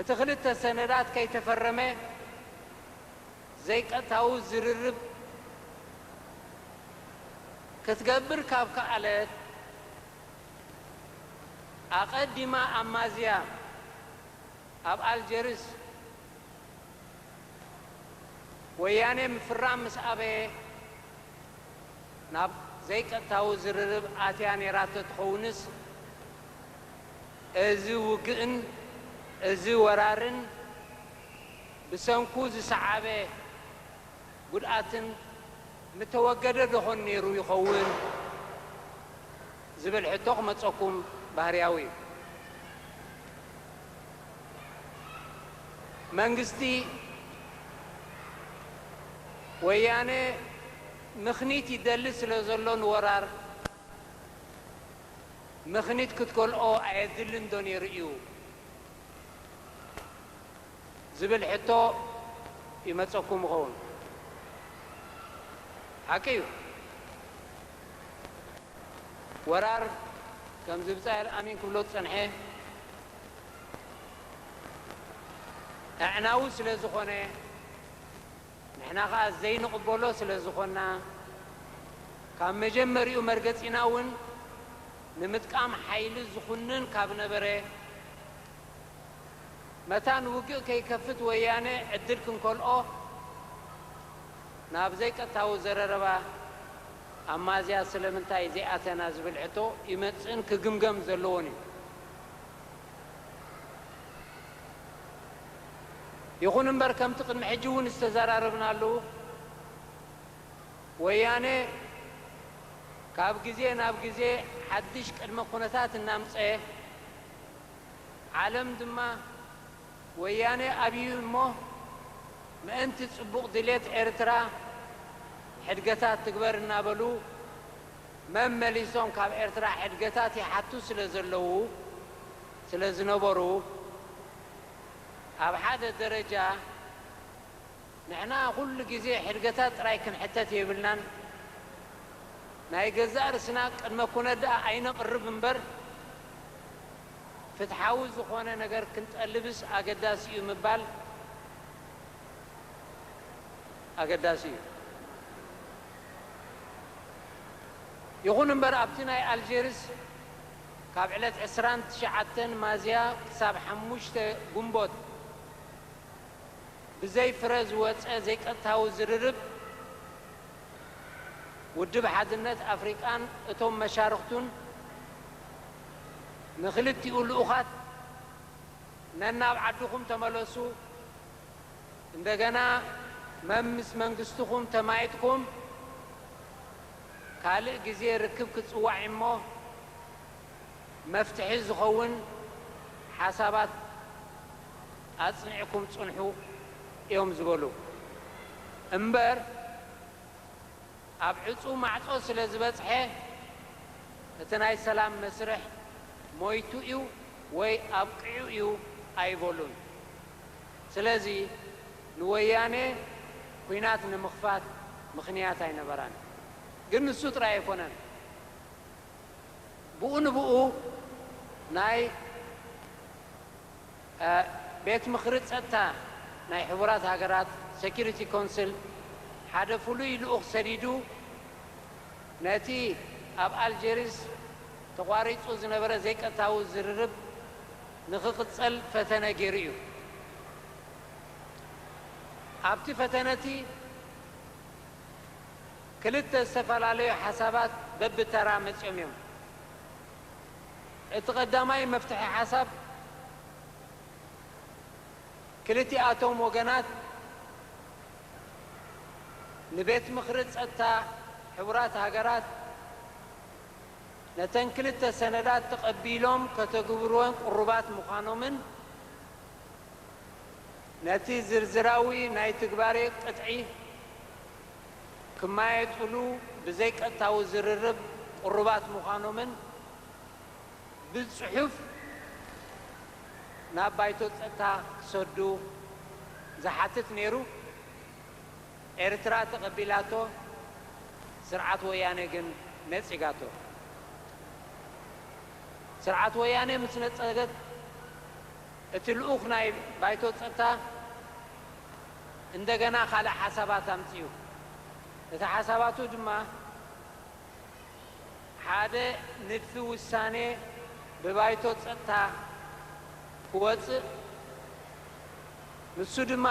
እቲ ክልተ ሰነዳት ከይተፈረመ፣ ዘይቀጥታዊ ዝርርብ ክትገብር ካብ ከኣለት፣ ኣቐዲማ ኣብ ማዝያ ኣብ ኣልጀርስ ወያኔ ምፍራም ምስ ኣበየ ናብ ዘይቀጥታዊ ዝርርብ ኣትያ ነይራ ተትኸውንስ እዚ ውግእን እዚ ወራርን ብሰንኩ ዝሰዓበ ጉድኣትን ምተወገደ ዶኾን ነይሩ ይኸውን ዝብል ሕቶ ክመፀኩም ባህርያዊ እዩ። መንግስቲ ወያነ ምኽኒት ይደሊ ስለዘሎ ንወራር ምኽኒት ክትከልኦ ኣየድልን ዶ ነይሩ እዩ? ዝብል ሕቶ ይመጸኩም ይኸውን። ሓቂ እዩ፣ ወራር ከምዚ ብጻይ ኣልኣሚን ክብሎ ዝጸንሐ ኣዕናዊ ስለ ዝኾነ፣ ንሕና ከኣ ዘይንቕበሎ ስለ ዝኾንና፣ ካብ መጀመርይኡ መርገጺና እውን ንምጥቃም ሓይሊ ዝኹንን ካብ ነበረ፣ መታን ውግእ ከይከፍት ወያነ ዕድል ክንከልኦ ናብ ዘይቀጥታዊ ዘረረባ ኣብ ማዝያ ስለምንታይ ዘይኣተና ዝብል ሕቶ ይመጽእን ክግምገም ዘለዎን እዩ። ይኹን እምበር ከምቲ ቅድሚ ሕጂ እውን ዝተዘራረብናሉ ወያነ ካብ ግዜ ናብ ግዜ ሓድሽ ቅድመ ኩነታት እናምጸ ዓለም ድማ ወያነ ኣብዩ እሞ ምእንቲ ጽቡቕ ድሌት ኤርትራ ሕድገታት ትግበር እናበሉ መመሊሶም ካብ ኤርትራ ሕድገታት ይሓቱ ስለ ዘለዉ ስለ ዝነበሩ ኣብ ሓደ ደረጃ ንሕና ኩሉ ግዜ ሕድገታት ጥራይ ክንሕተት የብልናን፣ ናይ ገዛእ ርእስና ቅድመ ኩነት ደኣ ኣይነቕርብ እምበር፣ ፍትሓዊ ዝኾነ ነገር ክንጠልብስ ኣገዳሲ እዩ ምባል ኣገዳሲ እዩ። ይኹን እምበር ኣብቲ ናይ ኣልጀርስ ካብ ዕለት ዕስራን ትሽዓተን ማዝያ ክሳብ ሓሙሽተ ጉንቦት፣ ብዘይ ፍረ ዝወጸ ዘይቀጥታዊ ዝርርብ፣ ውድብ ሓድነት ኣፍሪቃን እቶም መሻርኽቱን ንክልቲኡ ልኡኻት ነናብ ዓድኹም ተመለሱ፣ እንደገና መምስ መንግስትኹም ተማኢጥኩም ካልእ ግዜ ርክብ ክጽዋዒሞ መፍትሒ ዝኸውን ሓሳባት ኣጽኒዕኩም ጽንሑ እዮም ዝበሉ እምበር ኣብ ዕጹው ማዕጾ ስለ ዝበጽሐ እቲ ናይ ሰላም መስርሕ ሞይቱ እዩ ወይ ኣብቂዑ እዩ ኣይበሉን። ስለዚ ንወያኔ ኩናት ንምኽፋት ምኽንያት ኣይነበራን። ግን ንሱ ጥራይ ኣይኮነን ብኡ ንብኡ ናይ። ቤት ምኽሪ ጸጥታ ናይ ሕቡራት ሃገራት፣ Security Council፣ ሓደ ፍሉይ ልኡኽ ሰዲዱ ነቲ ኣብ ኣልጀሪስ ተቋሪጹ ዝነበረ ዘይቀጥታዊ ዝርርብ ንኽቕጸል ፈተነ ገይሩ እዩ። ኣብቲ ፈተነቲ ክልተ ዝተፈላለዩ ሓሳባት በብተራ መጺኦም እዮም። እቲ ቀዳማይ መፍትሒ ሓሳብ ክልቲኣቶም ወገናት ንቤት ምኽሪ ፀጥታ ሕቡራት ሃገራት ነተን ክልተ ሰነዳት ተቐቢሎም ከተግብሩወን ቅሩባት ምዃኖምን ነቲ ዝርዝራዊ ናይ ትግባሬ ቅጥዒ ክመያየጥሉ ብዘይቀጥታዊ ዝርርብ ቅሩባት ምዃኖምን ብጽሑፍ ናብ ባይቶ ጸጥታ ክሰዱ ዝሓትት ነይሩ። ኤርትራ ተቐቢላቶ፣ ስርዓት ወያነ ግን ነጺጋቶ። ስርዓት ወያነ ምስ ነጸገት እቲ ልኡኽ ናይ ባይቶ ጸጥታ፣ እንደገና ካልእ ሓሳባት ኣምጺኡ። እቲ ሓሳባቱ ድማ ሓደ ንድፊ ውሳኔ ብባይቶ ጸጥታ ክወጽእ፣ ንሱ ድማ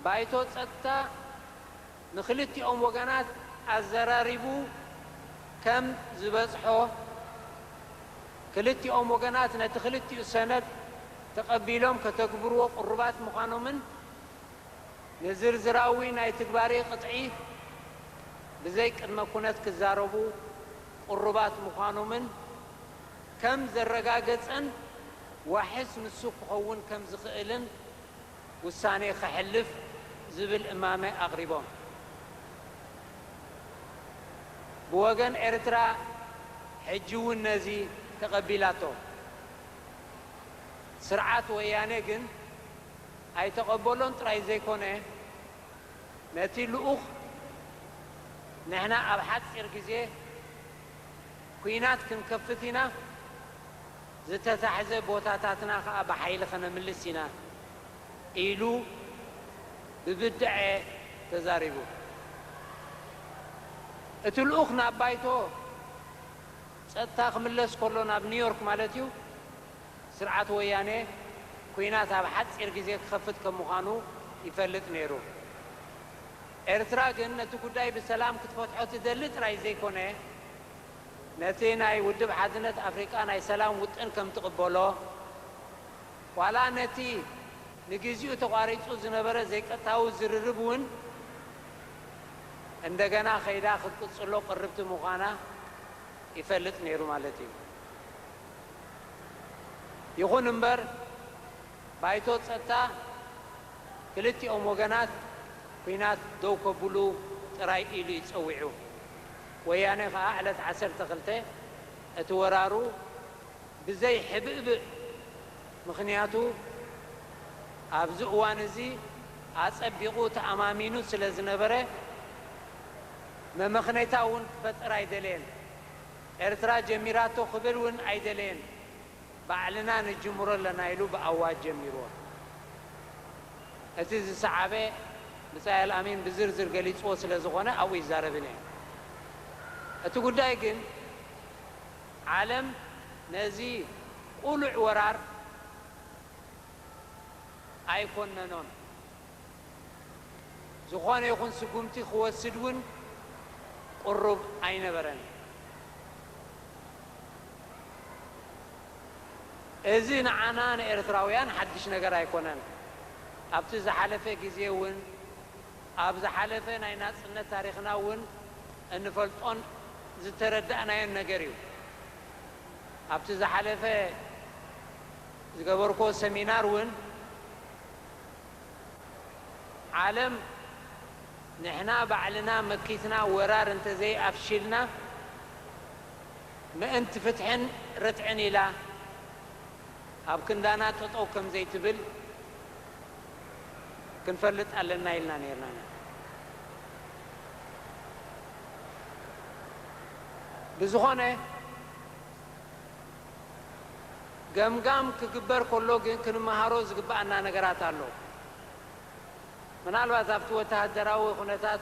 ባይቶ ጸጥታ፣ ንክልቲኦም ወገናት ኣዘራሪቡ ከም ዝበጽሖ፣ ክልቲኦም ወገናት ነቲ ክልቲኡ ሰነድ ተቐቢሎም ከተግብርዎ ቅሩባት ምዃኖምን ንዝርዝራዊ ናይ ትግባሬ ቅጥዒ ብዘይ ቅድመ ኩነት ክዛረቡ ቅሩባት ምዃኖምን ከም ዘረጋገጸን ዋሕስ ንሱ ክኸውን ከም ዝኽእልን ውሳኔ ከሕልፍ ዝብል እማመ ኣቕሪቦም። ብወገን ኤርትራ ሕጂ እውን ነዚ ተቐቢላቶ። ስርዓት ወያኔ ግን ኣይተቐበሎን ጥራይ ዘይኮነ፣ ነቲ ልኡኽ ንሕና ኣብ ሓጺር ግዜ ኲናት ክንከፍት ኢና፣ ዝተታሕዘ ቦታታትና ከኣ ብሓይሊ ከነምልስ ኢና ኢሉ ብብድዐ ተዛሪቡ። እቲ ልኡኽ ናብ ባይቶ ጸጥታ ክምለስ ከሎ፣ ናብ ኒውዮርክ ማለት'ዩ፣ ስርዓት ወያኔ ኲናት ኣብ ሓጺር ግዜ ክኸፍት ከም ምዃኑ ይፈልጥ ነይሩ። ኤርትራ ግን ነቲ ጉዳይ ብሰላም ክትፈትሖ ትደሊ ጥራይ ዘይኮነ፣ ነቲ ናይ ውድብ ሓድነት ኣፍሪቃ ናይ ሰላም ውጥን ከም ትቕበሎ፣ ዋላ ነቲ ንግዜኡ ተቋሪጹ ዝነበረ ዘይቀጥታዊ ዝርርብ እውን እንደገና ከይዳ ክትቅጽሎ ቅርብቲ ምዃና ይፈልጥ ነይሩ ማለት እዩ። ይኹን እምበር ባይቶ ጸጥታ ክልቲኦም ወገናት ኲናት ደው ከብሉ ጥራይ ኢሉ እዩ ጸዊዑ። ወያኔ ከኣ ዕለት ዓሰርተ ክልተ እቲ ወራሩ ብዘይ ሕብእብእ ምኽንያቱ ኣብዚ እዋን እዚ ኣጸቢቑ ተኣማሚኑ ስለ ዝነበረ መመኽነይታ እውን ክፈጥር ኣይደለየን። ኤርትራ ጀሚራቶ ክብል እውን ኣይደለየን። ባዕልና ንጅምሮ ኣለና ኢሉ ብኣዋጅ ጀሚርዎ። እቲ ዝሰዓበ ብጻይ ኣልኣሚን ብዝርዝር ገሊጽዎ ስለ ዝኾነ ኣብኡ ኣይዛረብን እየ። እቲ ጉዳይ ግን ዓለም ነዚ ቁሉዕ ወራር ኣይኮነኖን። ዝኾነ ይኹን ስጉምቲ ክወስድ እውን ቅሩብ ኣይነበረን። እዚ ንዓና ንኤርትራውያን ሓድሽ ነገር ኣይኮነን። ኣብቲ ዝሓለፈ ግዜ እውን ኣብ ዝሓለፈ ናይ ናጽነት ታሪኽና እውን እንፈልጦን ዝተረዳእናዮን ነገር እዩ። ኣብቲ ዝሓለፈ ዝገበርኩዎ ሰሚናር እውን፣ ዓለም ንሕና ባዕልና መኪትና ወራር እንተዘይ ኣፍሺልና ምእንቲ ፍትሕን ርትዕን ኢላ ኣብ ክንዳና ጠጠው ከምዘይትብል ክንፈልጥ ኣለና ኢልና ነይርና ኢና። ብዝኾነ፣ ገምጋም ክግበር ከሎ ግን ክንመሃሮ ዝግበኣና ነገራት ኣሎ። ምናልባት ኣብቲ ወተሃደራዊ ኩነታት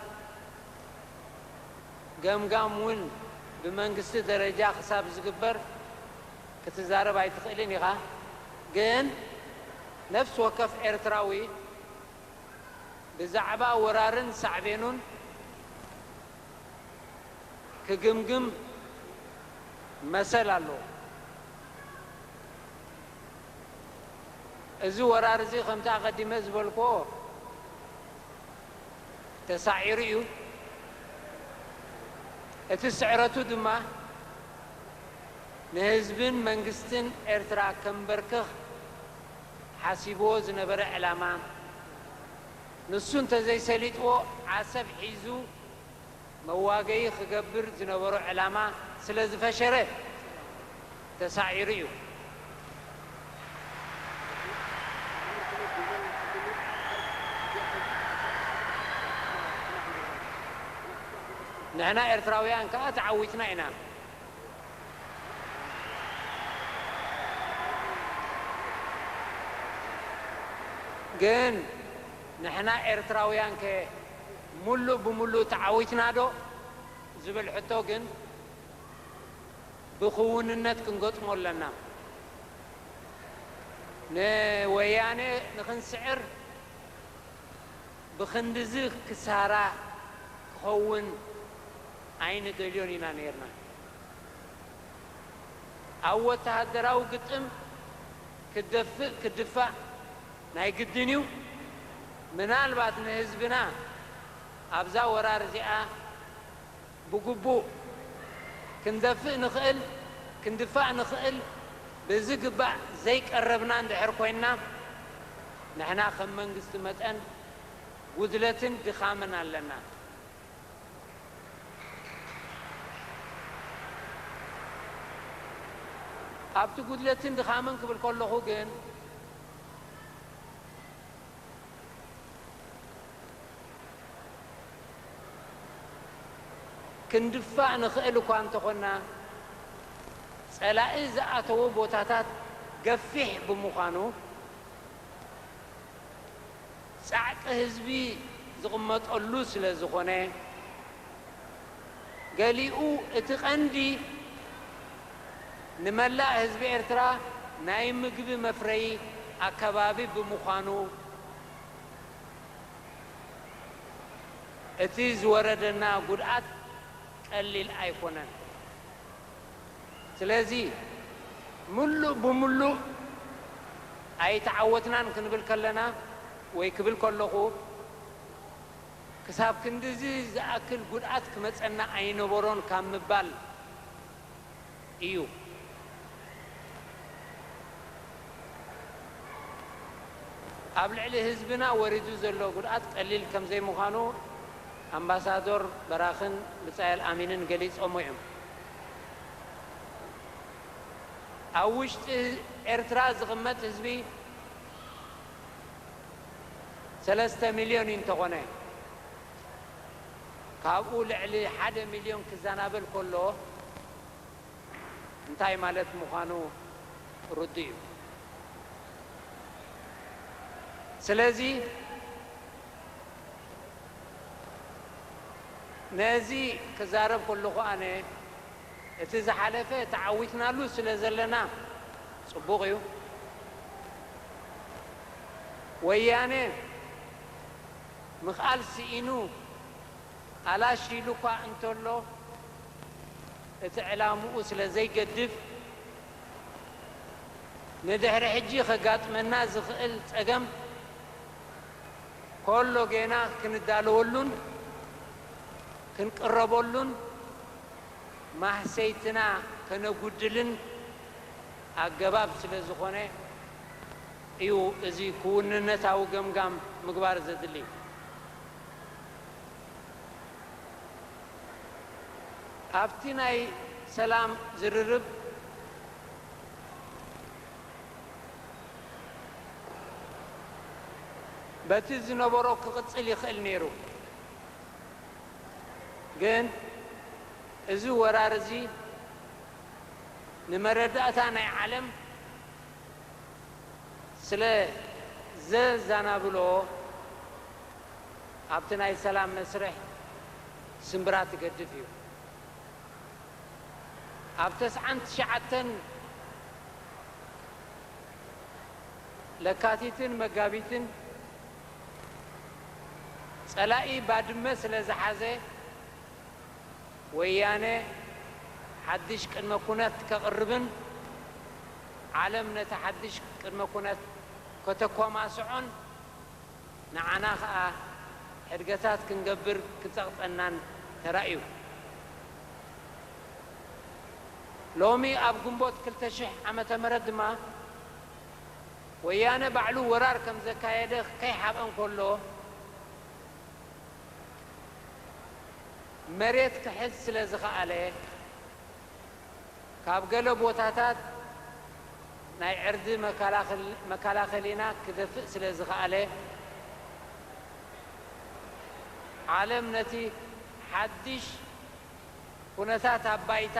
ገምጋም እውን ብመንግስቲ ደረጃ ክሳብ ዝግበር ክትዛረብ ኣይትኽእልን ኢኻ። ግን ነፍሲ ወከፍ ኤርትራዊ ብዛዕባ ወራርን ሳዕቤኑን፣ ክግምግም መሰል ኣለዎ። እዚ ወራር እዚ ከምቲ ኣቐዲመ ዝበልክዎ ተሳዒሩ እዩ። እቲ ስዕረቱ ድማ ንህዝብን መንግስትን ኤርትራ ከምበርክኽ ሓሲብዎ ዝነበረ ዕላማ ንሱ እንተዘይሰሊጥዎ ዓሰብ ሒዙ መዋገዪ ክገብር ዝነበሮ ዕላማ ስለዝፈሸረ ተሳዒሩ'ዩ። ንሕና ኤርትራውያን ከኣ ተዓዊትና ኢና። ግን ንሕና ኤርትራውያንከ ሙሉእ ብሙሉእ ተዓዊትናዶ ዝብል ሕቶ ግን ብክውንነት ክንገጥሞ ኣለና። ንወያኔ ንክንስዕር ብኽንድዚ ክሳራ ክኸውን ኣይንደልዮን ኢና ነይርና። ኣብ ወተሃደራዊ ግጥም ክትደፍእ ክትድፋእ ናይ ግድን እዩ። ምናልባት ንህዝብና ኣብዛ ወራር እዚኣ፣ ብግቡእ ክንደፍእ ንኽእል ክንድፋእ ንኽእል ብዝግባእ ዘይቀረብና እንድሕር ኮይንና ንሕና ከም መንግስቲ መጠን ጉድለትን ድኻምን ኣለና። ኣብቲ ጉድለትን ድኻምን ክብል ከለኹ ግን፣ ክንድፋእ ንኽእል እኳ እንተኾንና፣ ጸላኢ ዝኣተዎ ቦታታት ገፊሕ ብምዃኑ፣ ጻዕቂ ህዝቢ ዝቕመጠሉ ስለዝኾነ፣ ገሊኡ እቲ ቀንዲ ንመላእ ህዝቢ ኤርትራ ናይ ምግቢ መፍረዪ ኣከባቢ ብምዃኑ እቲ ዝወረደና ጉድኣት ቀሊል ኣይኮነን። ስለዚ ምሉእ ብምሉእ ኣይተዓወትናን ክንብል ከለና ወይ ክብል ከለኹ፣ ክሳብ ክንድዚ ዝኣክል ጉድኣት ክመጸና ኣይነበሮን ካብ ምባል ኢዩ። ኣብ ልዕሊ ህዝብና ወሪዱ ዘሎ ጉድኣት ቀሊል ከም ዘይምዃኑ ኣምባሳዶር በራኽን ብጻየል ኣሚንን ገሊጾሞ ኢዮም። ኣብ ውሽጢ ኤርትራ ዝቕመጥ ህዝቢ፣ ሰለስተ ሚልዮን እዩ እንተኾነ ካብኡ ልዕሊ ሓደ ሚልዮን ክዛናበል ከሎ እንታይ ማለት ምዃኑ ርዱእ እዩ። ስለዚ ነዚ ክዛረብ ከለኹ ኣነ እቲ ዝሓለፈ ተዓዊትናሉ ስለ ዘለና ጽቡቕ እዩ። ወያነ ምኽኣል ስኢኑ ኣላሽ ኢሉ'ኳ እንተሎ፣ እቲ ዕላምኡ ስለ ዘይገድፍ፣ ንድሕሪ ሕጂ ከጋጥመና ዝኽእል ጸገም ከሎ ጌና ክንዳለወሉን ክንቅረበሉን ማህሰይትና ከነጉድልን ኣገባብ ስለ ዝኾነ እዩ እዚ ክውንነታዊ ገምጋም ምግባር ዘድሊ። ኣብቲ ናይ ሰላም ዝርርብ በቲ ዝነበሮ ክቕጽል ይኽእል ነይሩ። ግን እዚ ወራር እዚ ንመረዳእታ ናይ ዓለም ስለ ዘዛናብሎ ኣብቲ ናይ ሰላም መስርሕ ስምብራት ይገድፍ እዩ። ኣብ ተስዓን ትሽዓተን ለካቲትን መጋቢትን ጸላኢ ባድመ ስለ ዝሓዘ ወያነ ሓድሽ ቅድመ ኩነት ከቕርብን ዓለም ነቲ ሓድሽ ቅድመ ኩነት ከተኮማስዖን ንዓና ከኣ ሕድገታት ክንገብር ክጸቕጠናን ተራእዩ። ሎሚ ኣብ ግንቦት ክልተ ሽሕ ዓመተ ምህረት ድማ፣ ወያነ ባዕሉ ወራር ከም ዘካየደ ከይሓብአ እንከሎ መሬት ክሕዝ ስለ ዝኸኣለ ካብ ገለ ቦታታት ናይ ዕርዲ መከላኸሊና ክደፍእ ስለ ዝኸኣለ ዓለም ነቲ ሓድሽ ኩነታት ኣብ ባይታ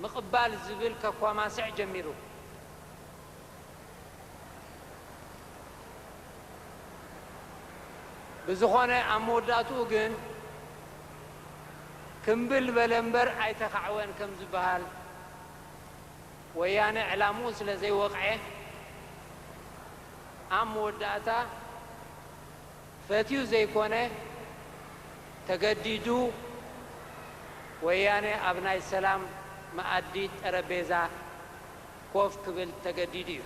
ምቕባል ዝብል ከኳማስዕ ጀሚሩ። ብዝኾነ ኣብ መወዳእትኡ ግን ክምብል በለ እምበር ኣይተኻዕወን ከምዝበሃል፣ ወያነ ዕላምኡ ስለዘይወቕዔ ኣብ መወዳእታ፣ ፈትዩ ዘይኮነ ተገዲዱ ወያነ ኣብ ናይ ሰላም መኣዲ ጠረጴዛ ኮፍ ክብል ተገዲዱ እዩ።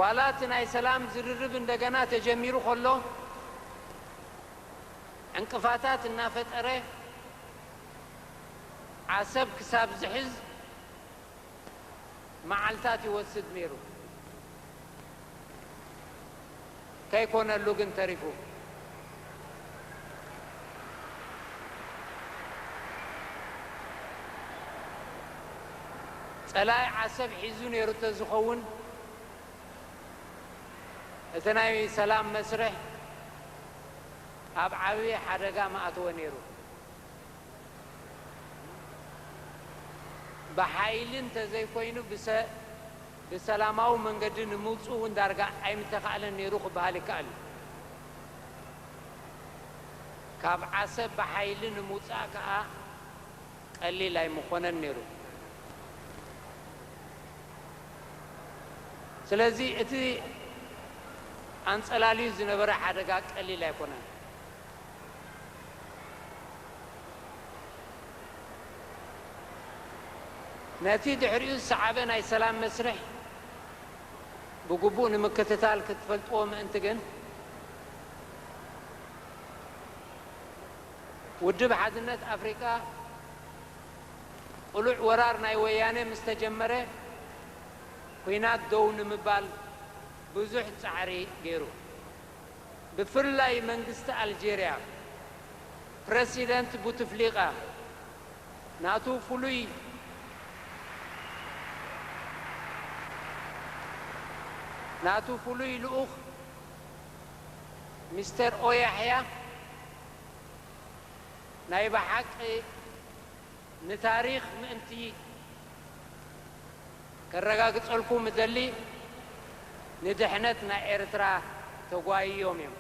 ዋላ እቲ ናይ ሰላም ዝርርብ እንደገና ተጀሚሩ ከሎ ዕንቅፋታት እናፈጠረ፣ ዓሰብ ክሳብ ዝሕዝ መዓልታት ይወስድ ነይሩ። ከይኮነሉ ግን ተሪፉ። ጸላኢ ዓሰብ ሒዙ ነይሩ እንተዝኸውን እቲ ናይ ሰላም መስርሕ ኣብ ዓቢ ሓደጋ ምኣተወ ነይሩ። ብሓይሊ እንተዘይኮይኑ ብሰላማዊ መንገዲ ንምውጽኡ እውን ዳርጋ ኣይምተኻእለን ነይሩ ክበሃል ይከኣል እዩ። ካብ ዓሰብ ብሓይሊ ንምውጻእ ከኣ ቀሊል ኣይምኾነን ነይሩ። ስለዚ እቲ ኣንጸላልዩ ዝነበረ ሓደጋ ቀሊል ኣይኮነን። ነቲ ድሕሪኡ ዝሰዓበ ናይ ሰላም መስርሕ ብግቡእ ንምክትታል ክትፈልጥዎ ምእንቲ ግን፣ ውድብ ሓድነት ኣፍሪቃ ቅሉዕ ወራር ናይ ወያነ ምስ ተጀመረ ኵናት ደው ንምባል ብዙሕ ጻዕሪ ገይሩ። ብፍላይ መንግስቲ ኣልጀርያ ፕረሲደንት ቡትፍሊቃ ናቱ ፍሉይ ናቱ ፍሉይ ልኡኽ ሚስተር ኦያሕያ ናይ ብሓቂ ንታሪኽ ምእንቲ ከረጋግጸልኩም እደሊ፣ ንድሕነት ናይ ኤርትራ ተጓይዮም እዮም።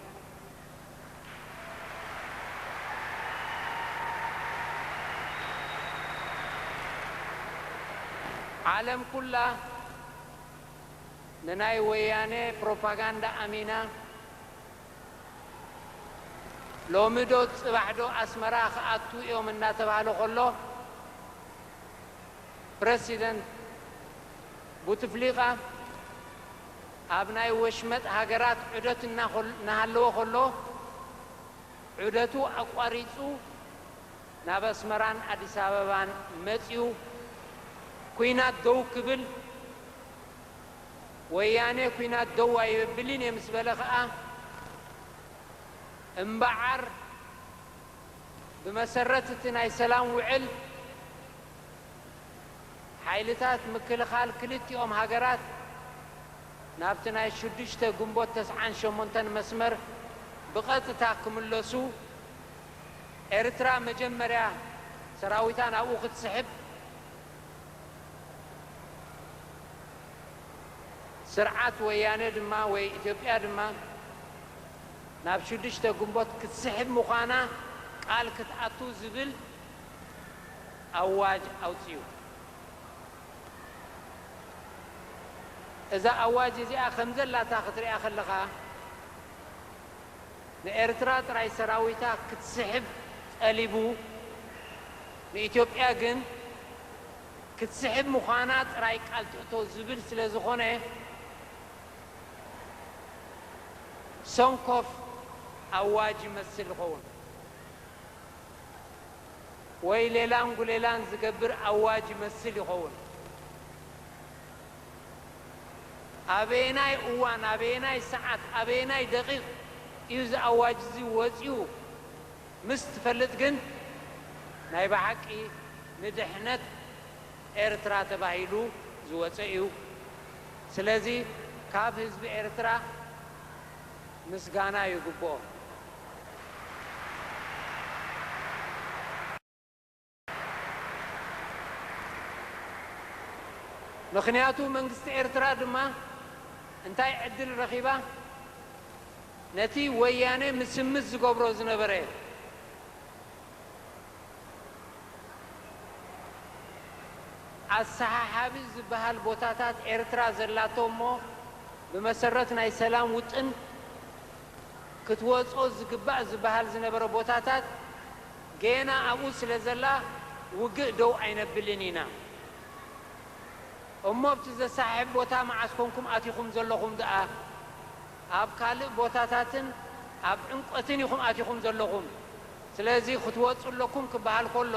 ዓለም ኩላ ንናይ ወያነ ፕሮፓጋንዳ ኣሚና፣ ሎሚ ዶ ጽባሕ ዶ ኣስመራ ክኣትው እዮም እናተባህለ ከሎ ፕረሲደንት ቡትፍሊቃ ኣብ ናይ ወሽመጥ ሃገራት ዑደት እናሃለወ ከሎ ዑደቱ ኣቋሪጹ ናብ ኣስመራን ኣዲስ ኣበባን መጺኡ ኲናት ደው ክብል ወያኔ ኩናት ደው ኣይብልን እየ ምስ በለ ከኣ እምበዓር ብመሰረት እቲ ናይ ሰላም ውዕል ሓይልታት ምክልኻል ክልቲኦም ሃገራት ናብቲ ናይ ሽዱሽተ ግንቦት ተስዓን ሸሞንተን መስመር ብቐጥታ ክምለሱ ኤርትራ መጀመርያ ሰራዊታ ናብኡ ክትስሕብ ስርዓት ወያነ ድማ ወይ ኢትዮጵያ ድማ ናብ ሽዱሽተ ግንቦት ክትስሕብ ምዃና ቃል ክትኣቱ ዝብል ኣዋጅ ኣውጺኡ። እዛ ኣዋጅ እዚኣ ከምዘላታ ክትሪኣ ከለኻ፣ ንኤርትራ ጥራይ ሰራዊታ ክትስሕብ ጠሊቡ ንኢትዮጵያ ግን ክትስሕብ ምዃና ጥራይ ቃል ትእቶ ዝብል ስለዝኾነ ሰንኮፍ ኣዋጅ ይመስል ዝኸውን ወይ ሌላን ጉሌላን ዝገብር ኣዋጅ ይመስል ይኸውን። ኣበየናይ እዋን፣ ኣበየናይ ሰዓት፣ ኣበየናይ ደቒቕ እዩ እዚ ኣዋጅ እዚ ወጺኡ ምስ ትፈልጥ ግን ናይ ብሓቂ ንድሕነት ኤርትራ ተባሂሉ ዝወጸ እዩ። ስለዚ ካብ ህዝቢ ኤርትራ ምስጋና ይግብኦ። ምኽንያቱ መንግስቲ ኤርትራ ድማ እንታይ ዕድል ረኺባ ነቲ ወያኔ ምስምስ ዝገብሮ ዝነበረ ኣሰሓሓቢ ዝበሃል ቦታታት ኤርትራ ዘላቶ እሞ ብመሰረት ናይ ሰላም ውጥን ክትወጾ ዝግባእ ዝበሃል ዝነበረ ቦታታት ጌና ኣብኡ ስለ ዘላ ውግእ ደው ኣይነብልን ኢና እሞ ኣብቲ ዘሰሓሕብ ቦታ መዓስ ኮንኩም ኣቲኹም ዘለኹም ደኣ ኣብ ካልእ ቦታታትን ኣብ ዕምቆትን ኢኹም ኣቲኹም ዘለኹም ስለዚ ክትወጹ ኣለኩም ክበሃል ከሎ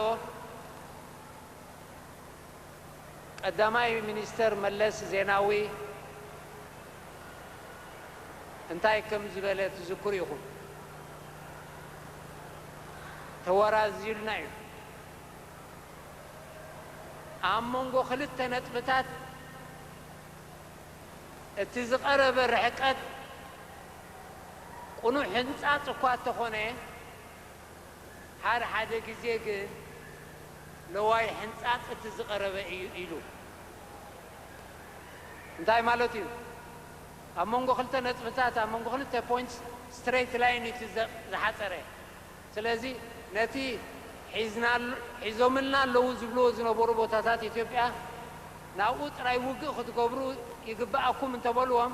ቀዳማይ ሚኒስተር መለስ ዜናዊ እንታይ ከም ዝበለ ትዝክሩ ኢኹም። ተወራዝዩልና እዩ። ኣብ መንጎ ክልተ ነጥብታት እቲ ዝቐረበ ርሕቀት ቅኑዕ ሕንጻጽ እኳ እተኾነ፣ ሓደ ሓደ ግዜ ግን ለዋይ ሕንጻጽ እቲ ዝቐረበ እዩ ኢሉ እንታይ ማለቱ እዩ? ኣብ መንጎ ክልተ ነጥብታት ኣብ መንጎ ክልተ points straight line እዩ እቲ ዝሓጸረ ስለዚ ነቲ ሒዞምልና ኣለዉ ዝብልዎ ዝነበሩ ቦታታት ኢትዮጵያ ናብኡ ጥራይ ውግእ ክትገብሩ ይግበኣኩም እንተበልዎም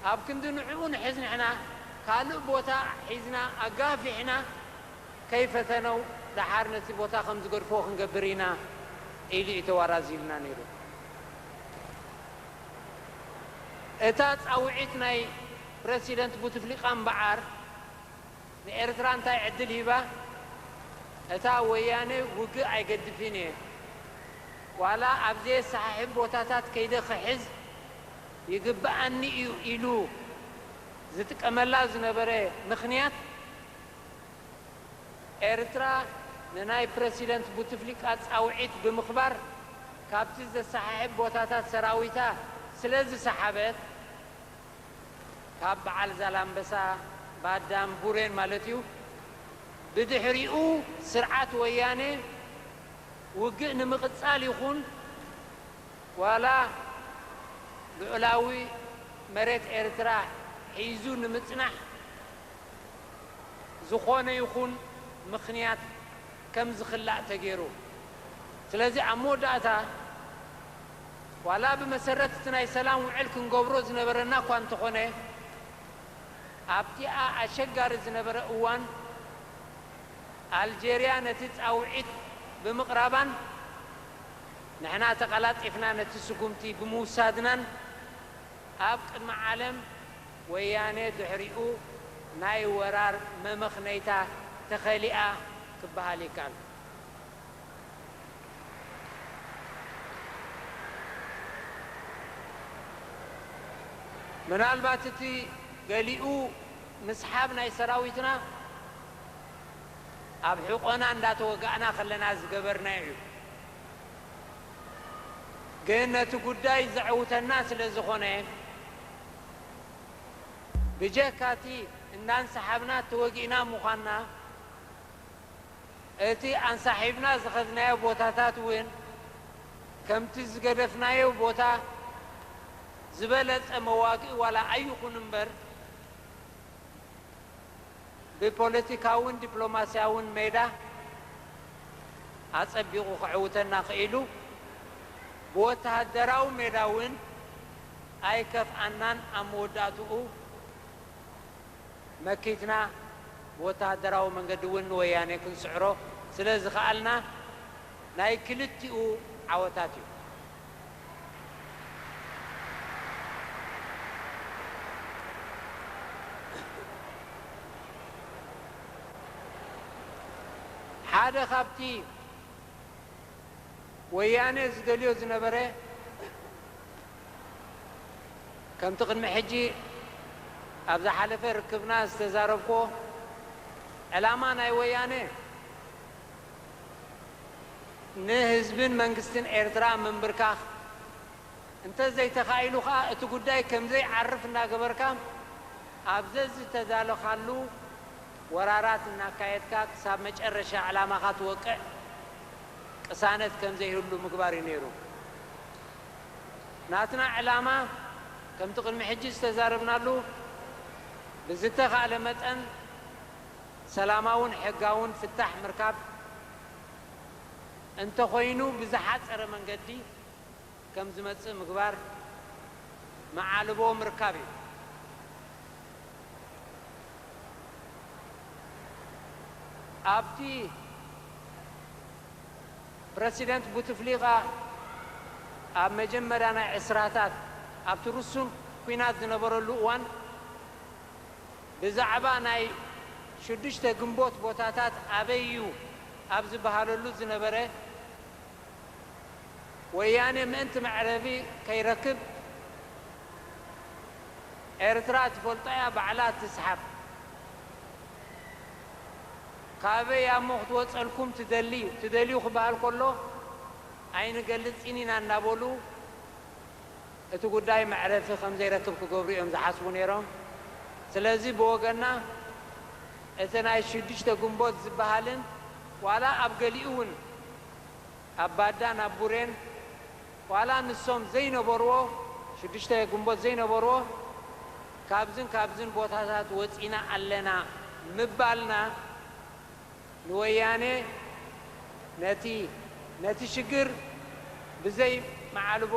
ኣብ ክንዲ ንዕኡ ንሕዝ ንሕና ካልእ ቦታ ሒዝና ኣጋፊሕና ከይፈተነው ደሓር ነቲ ቦታ ከም ዝገድፍዎ ክንገብር ኢና ኢሉ እዩ ተዋራዚዩልና ነይሩ። እታ ጻውዒት ናይ ፕረሲደንት ቡትፍሊቃ እምበኣር ንኤርትራ እንታይ ዕድል ሂባ? እታ ወያነ ውግእ ኣይገድፍን እየ ዋላ ኣብ ዘየሰሓሕብ ቦታታት ከይደ ክሕዝ ይግብኣኒ እዩ ኢሉ ዝጥቀመላ ዝነበረ ምኽንያት፣ ኤርትራ ንናይ ፕረሲደንት ቡትፍሊቃ ጻውዒት ብምኽባር ካብቲ ዘሰሓሕብ ቦታታት ሰራዊታ ስለ ዝሰሓበት፣ ካብ በዓል ዛላምበሳ፣ ባዳም፣ ቡሬን ማለት እዩ፣ ብድሕሪኡ ስርዓት ወያነ ውግእ ንምቕጻል ይኹን፣ ዋላ ልዑላዊ መሬት ኤርትራ ሒዙ ንምጽናሕ ዝኾነ ይኹን ምኽንያት ከም ዝኽላእ ተገይሩ። ስለዚ ኣብ መወዳእታ ዋላ ብመሰረት እቲ ናይ ሰላም ውዕል ክንገብሮ ዝነበረና እኳ እንተኾነ ኣብቲኣ ኣሸጋሪ ዝነበረ እዋን ኣልጀርያ ነቲ ጻውዒት ብምቕራባን ንሕና ተቐላጢፍና ነቲ ስጉምቲ ብምውሳድናን ኣብ ቅድሚ ዓለም ወያኔ ድሕሪኡ ናይ ወራር መመኽነይታ ተኸሊኣ ክበሃል ይከኣል። ምናልባት እቲ ገሊኡ ምስሓብ ናይ ሰራዊትና ኣብ ሕቖና እንዳተወጋእና ከለና ዝገበርናዮ እዩ። ግን ነቲ ጉዳይ ዘዕውተና ስለ ዝኾነ ብጀካ እቲ እንዳንሳሓብና ተወጊእና ምዃንና እቲ ኣንሳሒብና ዝኸድናዮ ቦታታት እውን ከምቲ ዝገደፍናዮ ቦታ ዝበለጸ መዋግኢ ዋላ ኣይኹን እምበር ብፖለቲካውን ዲፕሎማስያውን ሜዳ ኣጸቢቑ ከዕውተና ክኢሉ፣ ብወተሃደራዊ ሜዳ እውን ኣይከፍኣናን ኣብ መወዳእትኡ መኪትና ብወተሃደራዊ መንገዲ እውን ንወያኔ ክንስዕሮ ስለዝኸኣልና ናይ ክልቲኡ ዓወታት እዩ። ሓደ ካብቲ ወያኔ ዝደልዮ ዝነበረ ከምቲ ቅድሚ ሕጂ ኣብ ዝሓለፈ ርክብና ዝተዛረብኩዎ ዕላማ ናይ ወያኔ ንህዝብን መንግስትን ኤርትራ ምምብርካኽ፣ እንተዘይተኻኢሉ ከኣ እቲ ጉዳይ ከምዘይዓርፍ እናገበርካ ኣብ ዘዝተዳሎኻሉ ወራራት እናካየድካ ክሳብ መጨረሻ ዕላማኻ ትወቅዕ ቅሳነት ከምዘይህሉ ምግባር እዩ ነይሩ። ናትና ዕላማ ከምቲ ቅድሚ ሕጂ ዝተዛረብናሉ ብዝተኻእለ መጠን፣ ሰላማውን ሕጋውን ፍታሕ ምርካብ እንተኾይኑ ብዝሓፀረ መንገዲ ከምዝመፅእ ምግባር መዓልቦ ምርካብ እዩ። ኣብቲ ፕረሲደንት ቡትፍሊቃ ኣብ መጀመርያ ናይ ዕስራታት ኣብቲ ርሱን ኲናት ዝነበረሉ እዋን፣ ብዛዕባ ናይ ሽዱሽተ ግንቦት ቦታታት ኣበይ እዩ ኣብ ዝበሃለሉ ዝነበረ ወያኔ ምእንቲ መዕረቢ ከይረክብ ኤርትራ ትፈልጦ እያ ባዕላ ትስሓብ ካበይ ኣሞ ክትወጸልኩም ትደሊ ትደልዩ ክበሃል ከሎ ኣይንገልጽን ኢና እናበሉ እቲ ጉዳይ መዕረፊ ከምዘይረክብ ክገብሩ እዮም ዝሓስቡ ነይሮም። ስለዚ ብወገንና እቲ ናይ ሽዱሽተ ግንቦት ዝበሃልን ዋላ ኣብ ገሊኡ እውን ኣብ ባዳን ኣብ ቡሬን ዋላ ንሶም ዘይነበርዎ ሽዱሽተ ግንቦት ዘይነበርዎ ካብዝን ካብዝን ቦታታት ወፂና ኣለና ምባልና ንወያኔ ነቲ ነቲ ሽግር ብዘይ መዓልቦ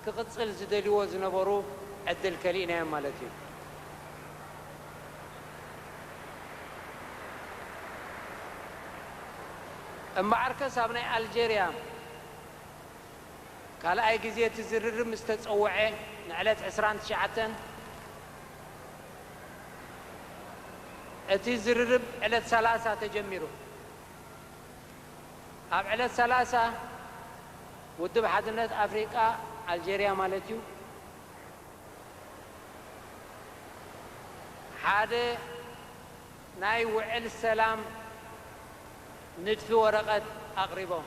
ክቕጽል ዝደልይዎ ዝነበሩ ዕድል ከሊእናዮም ማለት እዩ። እምበኣርከስ ኣብ ናይ ኣልጀርያ ካልኣይ ግዜ እቲ ዝርርብ ምስ ተጸውዐ ንዕለት ዕስራን ትሽዓተን፣ እቲ ዝርርብ ዕለት ሰላሳ ተጀሚሩ። ኣብ ዕለት ሰላሳ ውድብ ሓድነት ኣፍሪቃ፣ ኣልጀርያ ማለት'ዩ፣ ሓደ ናይ ውዕል ሰላም ንድፊ ወረቐት ኣቕሪቦም።